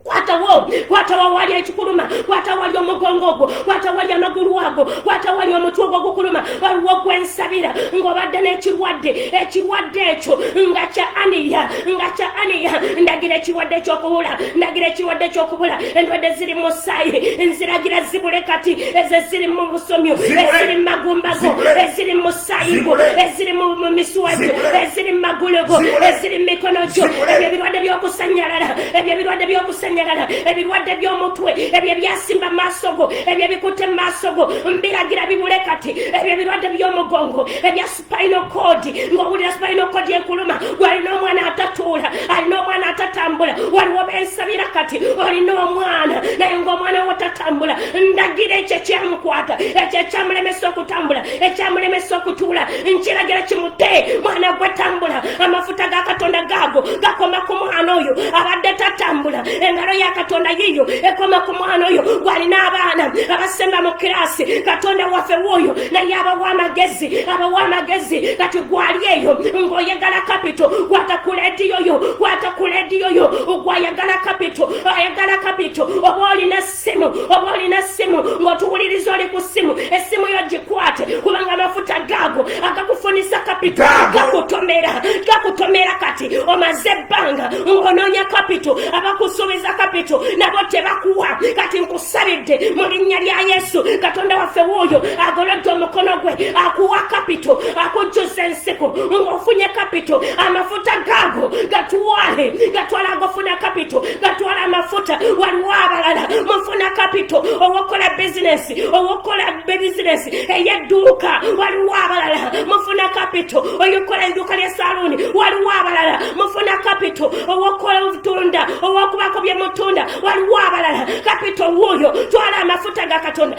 watawo watawa wali ekikuluma watawali omugongo ogwo watawali amagulu ago watawali omutwe ogwo gukuluma waliwo gwensabira ng'obadde n'ekirwadde ekirwadde ekyo nga kya aniya nga kya aniya ndagira ekirwadde ekyokubula ndagira ekirwadde ekyokubula endwadde ziri mu musaayi nziragira zibule kati ezo eziri mu busomyo eziri mu magumbago eziri mu sayingo eziri mu misuwa gyo eziri mu magulu go eziri mu mikono gyo ebyo ebirwadde by'okusanyalala ebyo ebirwadde by'okusanyalala ebirwadde by'omutwe ebyo ebyasimba mu maaso go ebyo ebikutte mu maaso go mbiragira bibule kati ebyo ebirwadde by'omugongo ebya supayino koodi ng'owulira supayino koodi ekuluma walina omwana atatuula alina omwana atatambula waliwo bensabira kati olina omwana naye ng'omwana wo tatambula ndagira ekyo ekyamukwata ekyo ekyamulemesa okutambula ekyamulemesa okutuula nkiragira kimute mwana gwe tambula amafuta ga katonda gaago gakoma ku mwana oyo abadde tatambula engalo ya katonda yiyo ekoma ku mwana oyo gwalina abaana abasemba mu kirasi katonda waffe wooyo naye abawa amagezi abawa amagezi kati gwali eyo ng'oyagala kapito kwata ku lediyo yo kwata ku lediyo yo gwayagala kapito ayagala kapito oba olina simu oba olina simu ng'otuwuliriza oli ku simu essimu yo gikwate kubanga amafuta gaago agakufunisa kapito gakutomera gakutomera kati omaze ebbanga ng'onoonya kapito abakusuubiza kapito nabo tebakuwa kati nkusabidde mu linnya lya yesu katonda waffe wuuyo agolodde omukono gwe akuwa kapito akujjuza ensiku ng'ofunye kapito amafuta gaago gatwale gatwala agofuna kapito batwala amafuta waliwo abalala mufuna kapito owokukola bizinesi owokukola bizinesi eyedduuka waliwo abalala mufuna kapito oyokukola edduuka lya saluuni waliwo abalala mufuna kapito owokukola obutunda owokubako byemutunda waliwo abalala kapito wuuyo twala amafuta ga katonda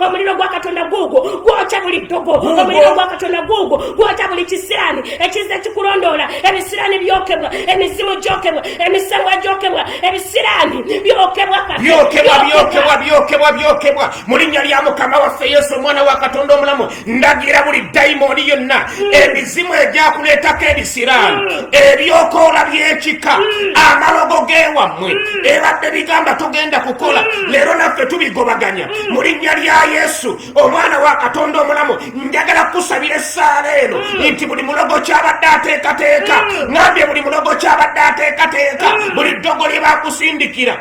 omuliro gwa katonda guugwo gwokya buli ddogo omuliro gwa katonda guugwo gwokya buli kisiraani ekiza ekikulondoola ebisiraani byokebwa emizimu gyokebwa emisambwa gyokebwa ebisiraani byokebwa byokebwa mu linnya lya mukama waffe yesu omwana wa katonda omulamu ndagira buli dayimooni yonna mm. emizimu egyakuleetako ebisiraani mm. ebyokoola byekika mm. amalogo geewammwe ebadde bigamba togenda kukola leero naffe tubigobaganya mu linnya lya yesu omwana wa katonda omulamu njagala kukusabira essaala eno mm. nti buli mulogo kyabadde ateekateeka mm. ngambye buli mulogo kyabadde ateekateeka mm. buli ddogo lye bakusindikira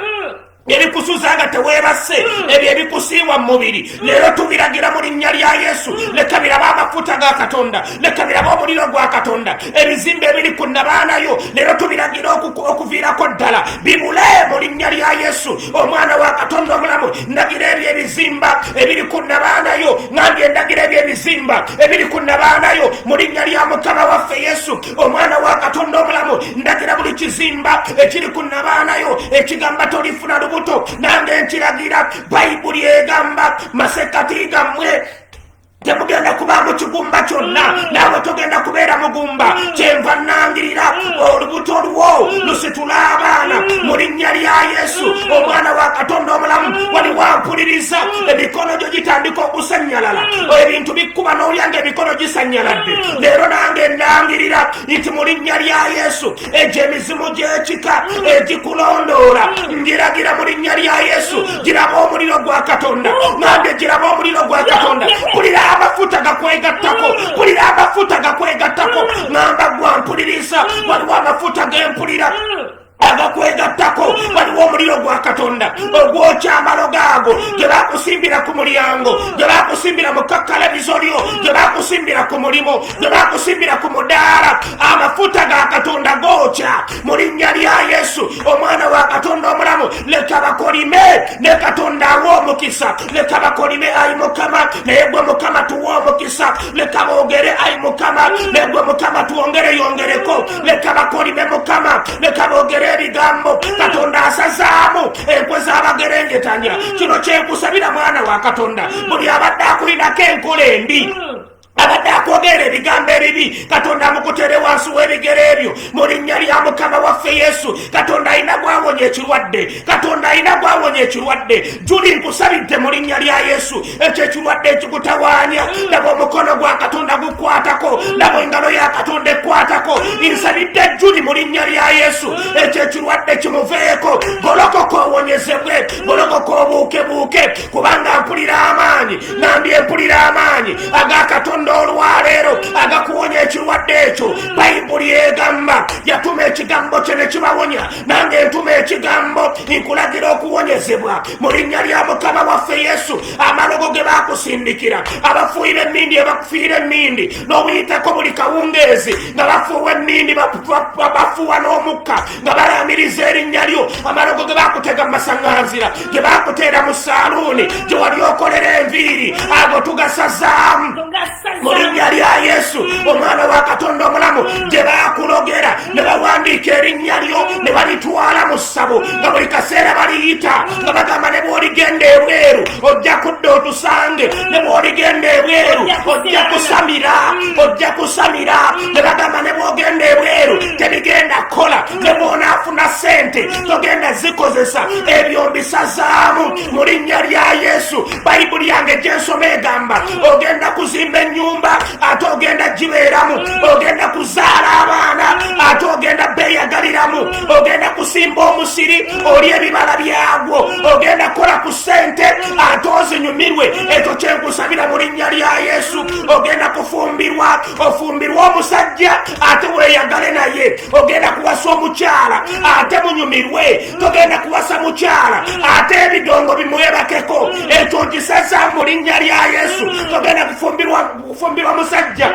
ebikusuza nga teweebase hmm. ebyo ebikusiiwa mu mubiri hmm. leero tubiragira mu linnya lya yesu hmm. leka biraba amafuta ga katonda ne tubiraba omuliro gwa katonda ebizimba ebiri ku nabaanayo leero tubiragira okuviirako ddala bibule mu linnya lya yesu omwana wa katonda omulamu ndagira ebyo ebizimba ebiri ku nabaanayo nandi endagira ebyo ebizimba ebiri ku nabaanayo mu linnya lya mukama waffe yesu omwana wa katonda omulamu ndagira buli kizimba ekiri ku nabaanayo ekigamba tolifuna lubuto nange nkiragira bayibuli egamba masekati gammwe temugenda kuba mu kigumba kyonna mm. naawe togenda kubeera mugumba mm. kyenva nangirira mm. olubuto lwo lusitula abaana mu linnya lya yesu omwana wa katonda omulamu wali wampuliriza emikono gyo gitandika okusanyalala ebintu bikkuba n'olyanga emikono gisanyaladde leero nange nangirira nti mu linnya lya yesu egyo emizimu gy'ekika egikulondoola ngiragira mu linnya lya yesu giraba omuliro gwa katonda nange giraba omuliro gwa katonda kulira amafuta gakwegattako kulira amafuta gakwegattako namba gwa mpuliriza waliwo amafuta gempulira agakwegattako waliwo omuliro gwa katonda ogwokyamalo gaago gye bakusimbira ku mulyango gye bakusimbira mu kakkalanizo lyo gye bakusimbira ku mulimu tebakusimbira ku mudaala amafuta ga katonda gookya mu linnya lya yesu omwana wa katonda omulamu leka bakolime ne katonda awa omukisa leka bakolime ayi mukama naye gwe mukama tuwa omukisa leka boogere ayi mukama naye gwe mukama twongere yongereko leka bakolime mukama leka boogere ebigambo katonda asazaamu enkwe z'abagerengetanya kino kyenkusabira mwana wa katonda buli abadde akulinako enkola embi abadde akwogera ebigambo ebibi katonda amukutere wansi w'ebigere ebyo mu linnya lya mukama waffe yesu katonda alina gwawonya ekirwadde katonda alina gwawonya ekirwadde juli nkusabidde mu linnya lya yesu ekyo ekirwadde ekikutawaanya laba omukono gwa katonda gukwatako laba engalo ya katonda ekwatako nsabidde juli mu linnya lya yesu ekyo ekirwadde kimuveeko golokoka owonyezebwe golokoka obuukebuuke kubanga mpulira amaanyi nambye mpulira amaanyi aga katonda olwaleero agakuwonya ekirwadde ekyo bayibuli egamba yatuma ekigambo kye ne kibawonya nange ntuma ekigambo nkulagira okuwonyezebwa mu linnya lya mukama waffe yesu amalogo ge bakusindikira abafuuyira emmindi ebakufiira emmindi n'obuyitako buli kawungeezi nga bafuuwa emmindi bafuuwa n'omukka nga balaamiriza erinnya lyo amalogo ge bakutega mu masaŋŋanzira ge bakuteera mu saaluuni gye wali okolera enviiri ago tugasazaamu mu linnya lya yesu omwana wa katonda omulamu gye bakulogera ne bawandiika erinnya lyo ne balitwala mu ssabo nga buli kaseera baliyita nga bagamba ne bwoligenda ebweru ojja kudda otusange ne bwoligenda ebweru ojja kusamira ojja kusamira ne bagamba ne bwogenda ebweru tebigenda kukola ne bwonaafuna sente togenda zikozesa ebyo mbisazaamu mu linnya lya yesu bayibuli yange gyensoma egamba ogenda kuzimba ennyumba ate ogenda gibeeramu ogenda kuzaala abaana ate ogenda beeyagaliramu ogenda kusimba omusiri oli ebibala byagwo ogenda kukola ku sente ate ozinyumirwe ekyo kyenkusabira mu linnya lya yesu ogenda kufumbirwa ofumbirwa omusajja ate weyagale naye ogenda kuwasa omukyala ate munyumirwe togenda kuwasa mukyala ate ebidongo bimwebakeko ekyo nkisaza mu linnya lya yesu togenda kufumbirwa musajja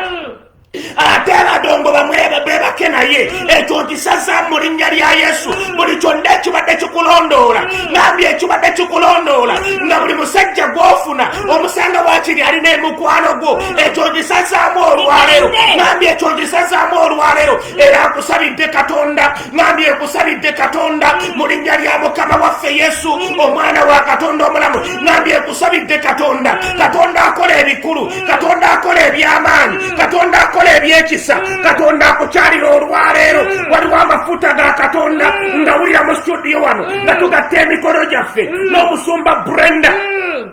ate abadongo bamwebebebake naye ekyo nkisaza mu linnya lya yesu buli kyonna ekibadde kikulondoola nambye ekibadde kikulondoola nga buli musajja gwofuna omusanga wakiri ali nemukwano gwo ekyo ngisazaamu olwaleero nambi ekyo ngisazaamu olwaleero era nkusabidde katonda nambi ekusabidde katonda mu linnya lya mukama waffe yesu omwana wa katonda omulamu nambi ekusabidde katonda katonda akola ebikulu katonda akola ebyamaanyi katonda akola ebyekisa katonda akukyalira olwaleero waliwo amafuta ga katonda ngawulira mu studio wano nga tugatta emikono gyaffe n'omusumba brenda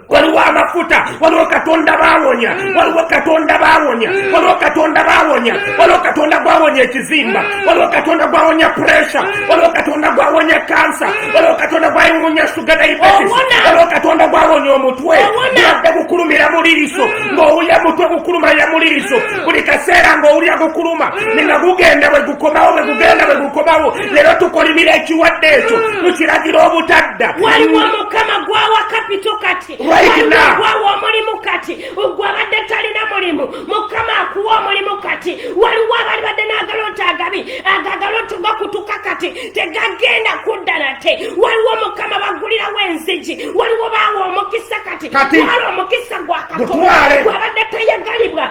waliwo amafuta waliwo katonda bawonya mm. waliwo katonda bawonya mm. waliwo katonda bawonya mm. waliwo katonda gwawonya ekizimba waliwo katonda gwawonya puresha waliwo katonda gwawonya kansa waliwo katonda gwawonya suga diabetes waliwo katonda gwawonya omutwe yadde gukulumira muliriso ng'owulya mutwe gukuluma ya muliriso buli kaseera ng'owulya gukuluma ninga gugenda bwe gukomawo bwe gugenda bwe gukomawo lero tukolimira ekiwadde ekyo hmm. tukiragira obutadda waliwo mukama gwawa kapito kati gwawa omulimu kati gwe abadde talina mulimu mukama akuwa omulimu kati waliwo abali badde n'agalonti agabi agagalonti gakutuka kati tegagenda kudda nate waliwo mukama bagulirawo enzigi waliwo baawa omukisa kati wala omukisa gwakatwale gwabadde tayagalibwa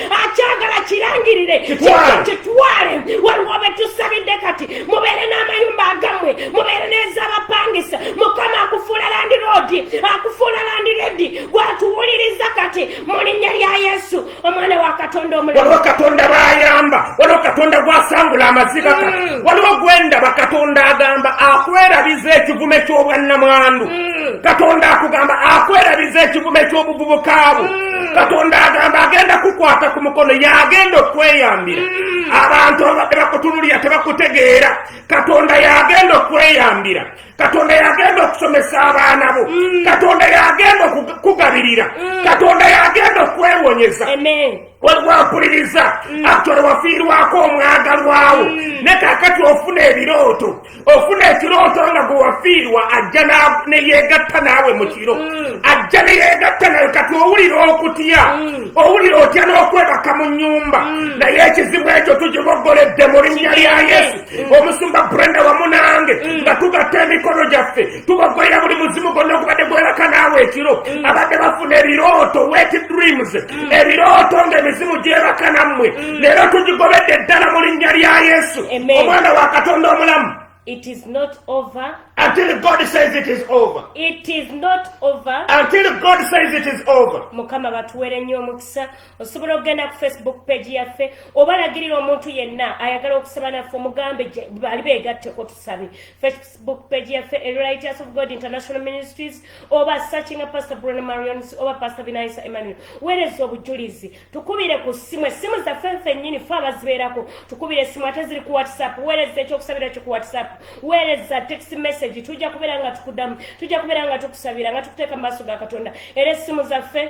akyagala kirangirire kitwale waliwo betusabidde kati mubeere n'amayumba agamwe mubeere n'ezabapangisa mukama akufuula landiroodi akufuula landiredi gwatuwuliriza kati mu linnya lya yesu omwana wa katonda omulwaliwo katonda bayamba waliwo katonda gwasangula amaziga kati mm. waliwo gwendaba katonda agamba akwerabiza ekivume ky'obwannamwandu mm. katonda akugamba akwerabiza ekivume ky'obuvubuka bwo mm. katonda agamba agenda kukwata ku mukono yagenda okweyambira mm. abantu ababadde bakutunulira tebakutegeera katonda yagenda okweyambira katonda yagenda okusomesa abaana bo mm. katonda yagenda okukugabirira mm. katonda yagenda okwewonyeza wewapuliriza mm. atole wafiirwako omwagalwawo mm. ne kakati ofuna ebirooto ofuna ekirooto nga gwewafiirwa ajja neyegatta naawe mu kiro mm. ajja neyegatta nawe kati owulira okutya mm. owulira otya n'okwebaka mu nyumba mm. naye ekizibu ekyo tukibogoledde mu linnya lya yesu omusumba brenda wamu nange nga tugatta emikono gyaffe tubagwera buli muzimu gonna ogubadde gwebaka naawe ekiro mm. abadde bafuna ebirooto wet dreams mm. ebirooto nga emizimu gyebaka nammwe mm. leero tugigobedde eddala mu linnya lya yesu omwana wa katonda omulamu It is not over. Until God says it is over. It is not over. Until God says it is over. Mukama batuwere nnyo omukisa osobola okugenda ku Facebook page yaffe obalagirira omuntu yenna ayagala okusaba naffe omugambe bali beegatteko tusabe book page yaffe elighters of god international ministries oba searchinga pastor bruno marions oba pastor binaisa emmanuel weereza obujulizi tukubire ku ssimu essimu zaffe nfennyini fe abazibeerako tukubire essimu ate ziri ku whatsapp weereza ekyokusabira kyo ku whatsapp weereza text message tujja kubeera nga tukudamu tujja kubeera nga tukusabira nga tukuteeka mu maaso ga katonda era essimu zaffe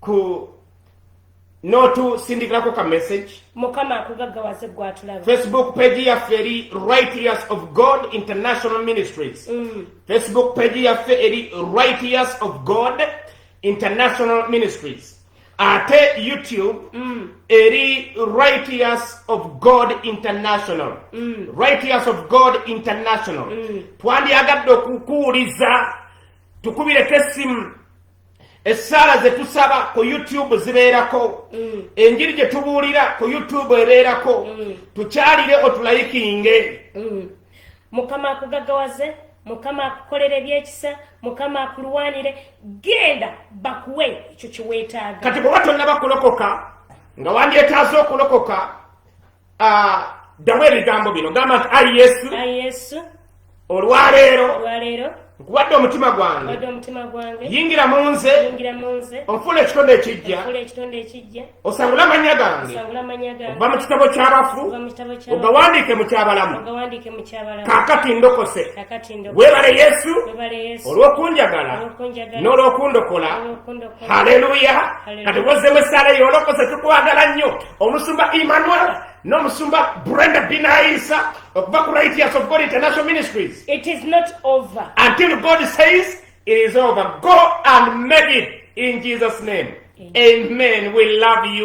ku n'otusindikirako ka message mukama akugaggawaze gwatulaba facebook page yaffe eri righteous of god international ministries mm. facebook page yaffe eri righteous of god international ministries ate youtube mm. eri righteous of god international mm. righteous of god international mm. twandyagadde okukuwuliza tukubireko essimu essaala ze tusaba ku youtube zibeerako mm. enjiri gye tubuulira ku youtube ebeerako mm. tukyalire otulayikinge mm. mukama akugagawaze mukama akukolera ebyekisa mukama akulwanire genda bakuwe ekyo kyeweetaaga kati bweba tonna bakulokoka nga wandyetaaza okulokoka ddamu ah, ebigambo bino gamba nti ayi yesu olwaleero nkuwadde omutima gwange yingira mu nze onfuula ekitonde ekijja osangule amannya gange okuva mu kitabo ky'abafu ogawandiike mu kyabalamu kakati ndokose weebale yesu olw'okunjagala n'olw'okundokola haleluya kati wozemu esaala yolokose tukwagala nnyo omusumba emmanuel n'omusumba brenda binaisa okuva ku right years of god international ministries it is not over until god says it is over go and make it in jesus name amen, amen. we love you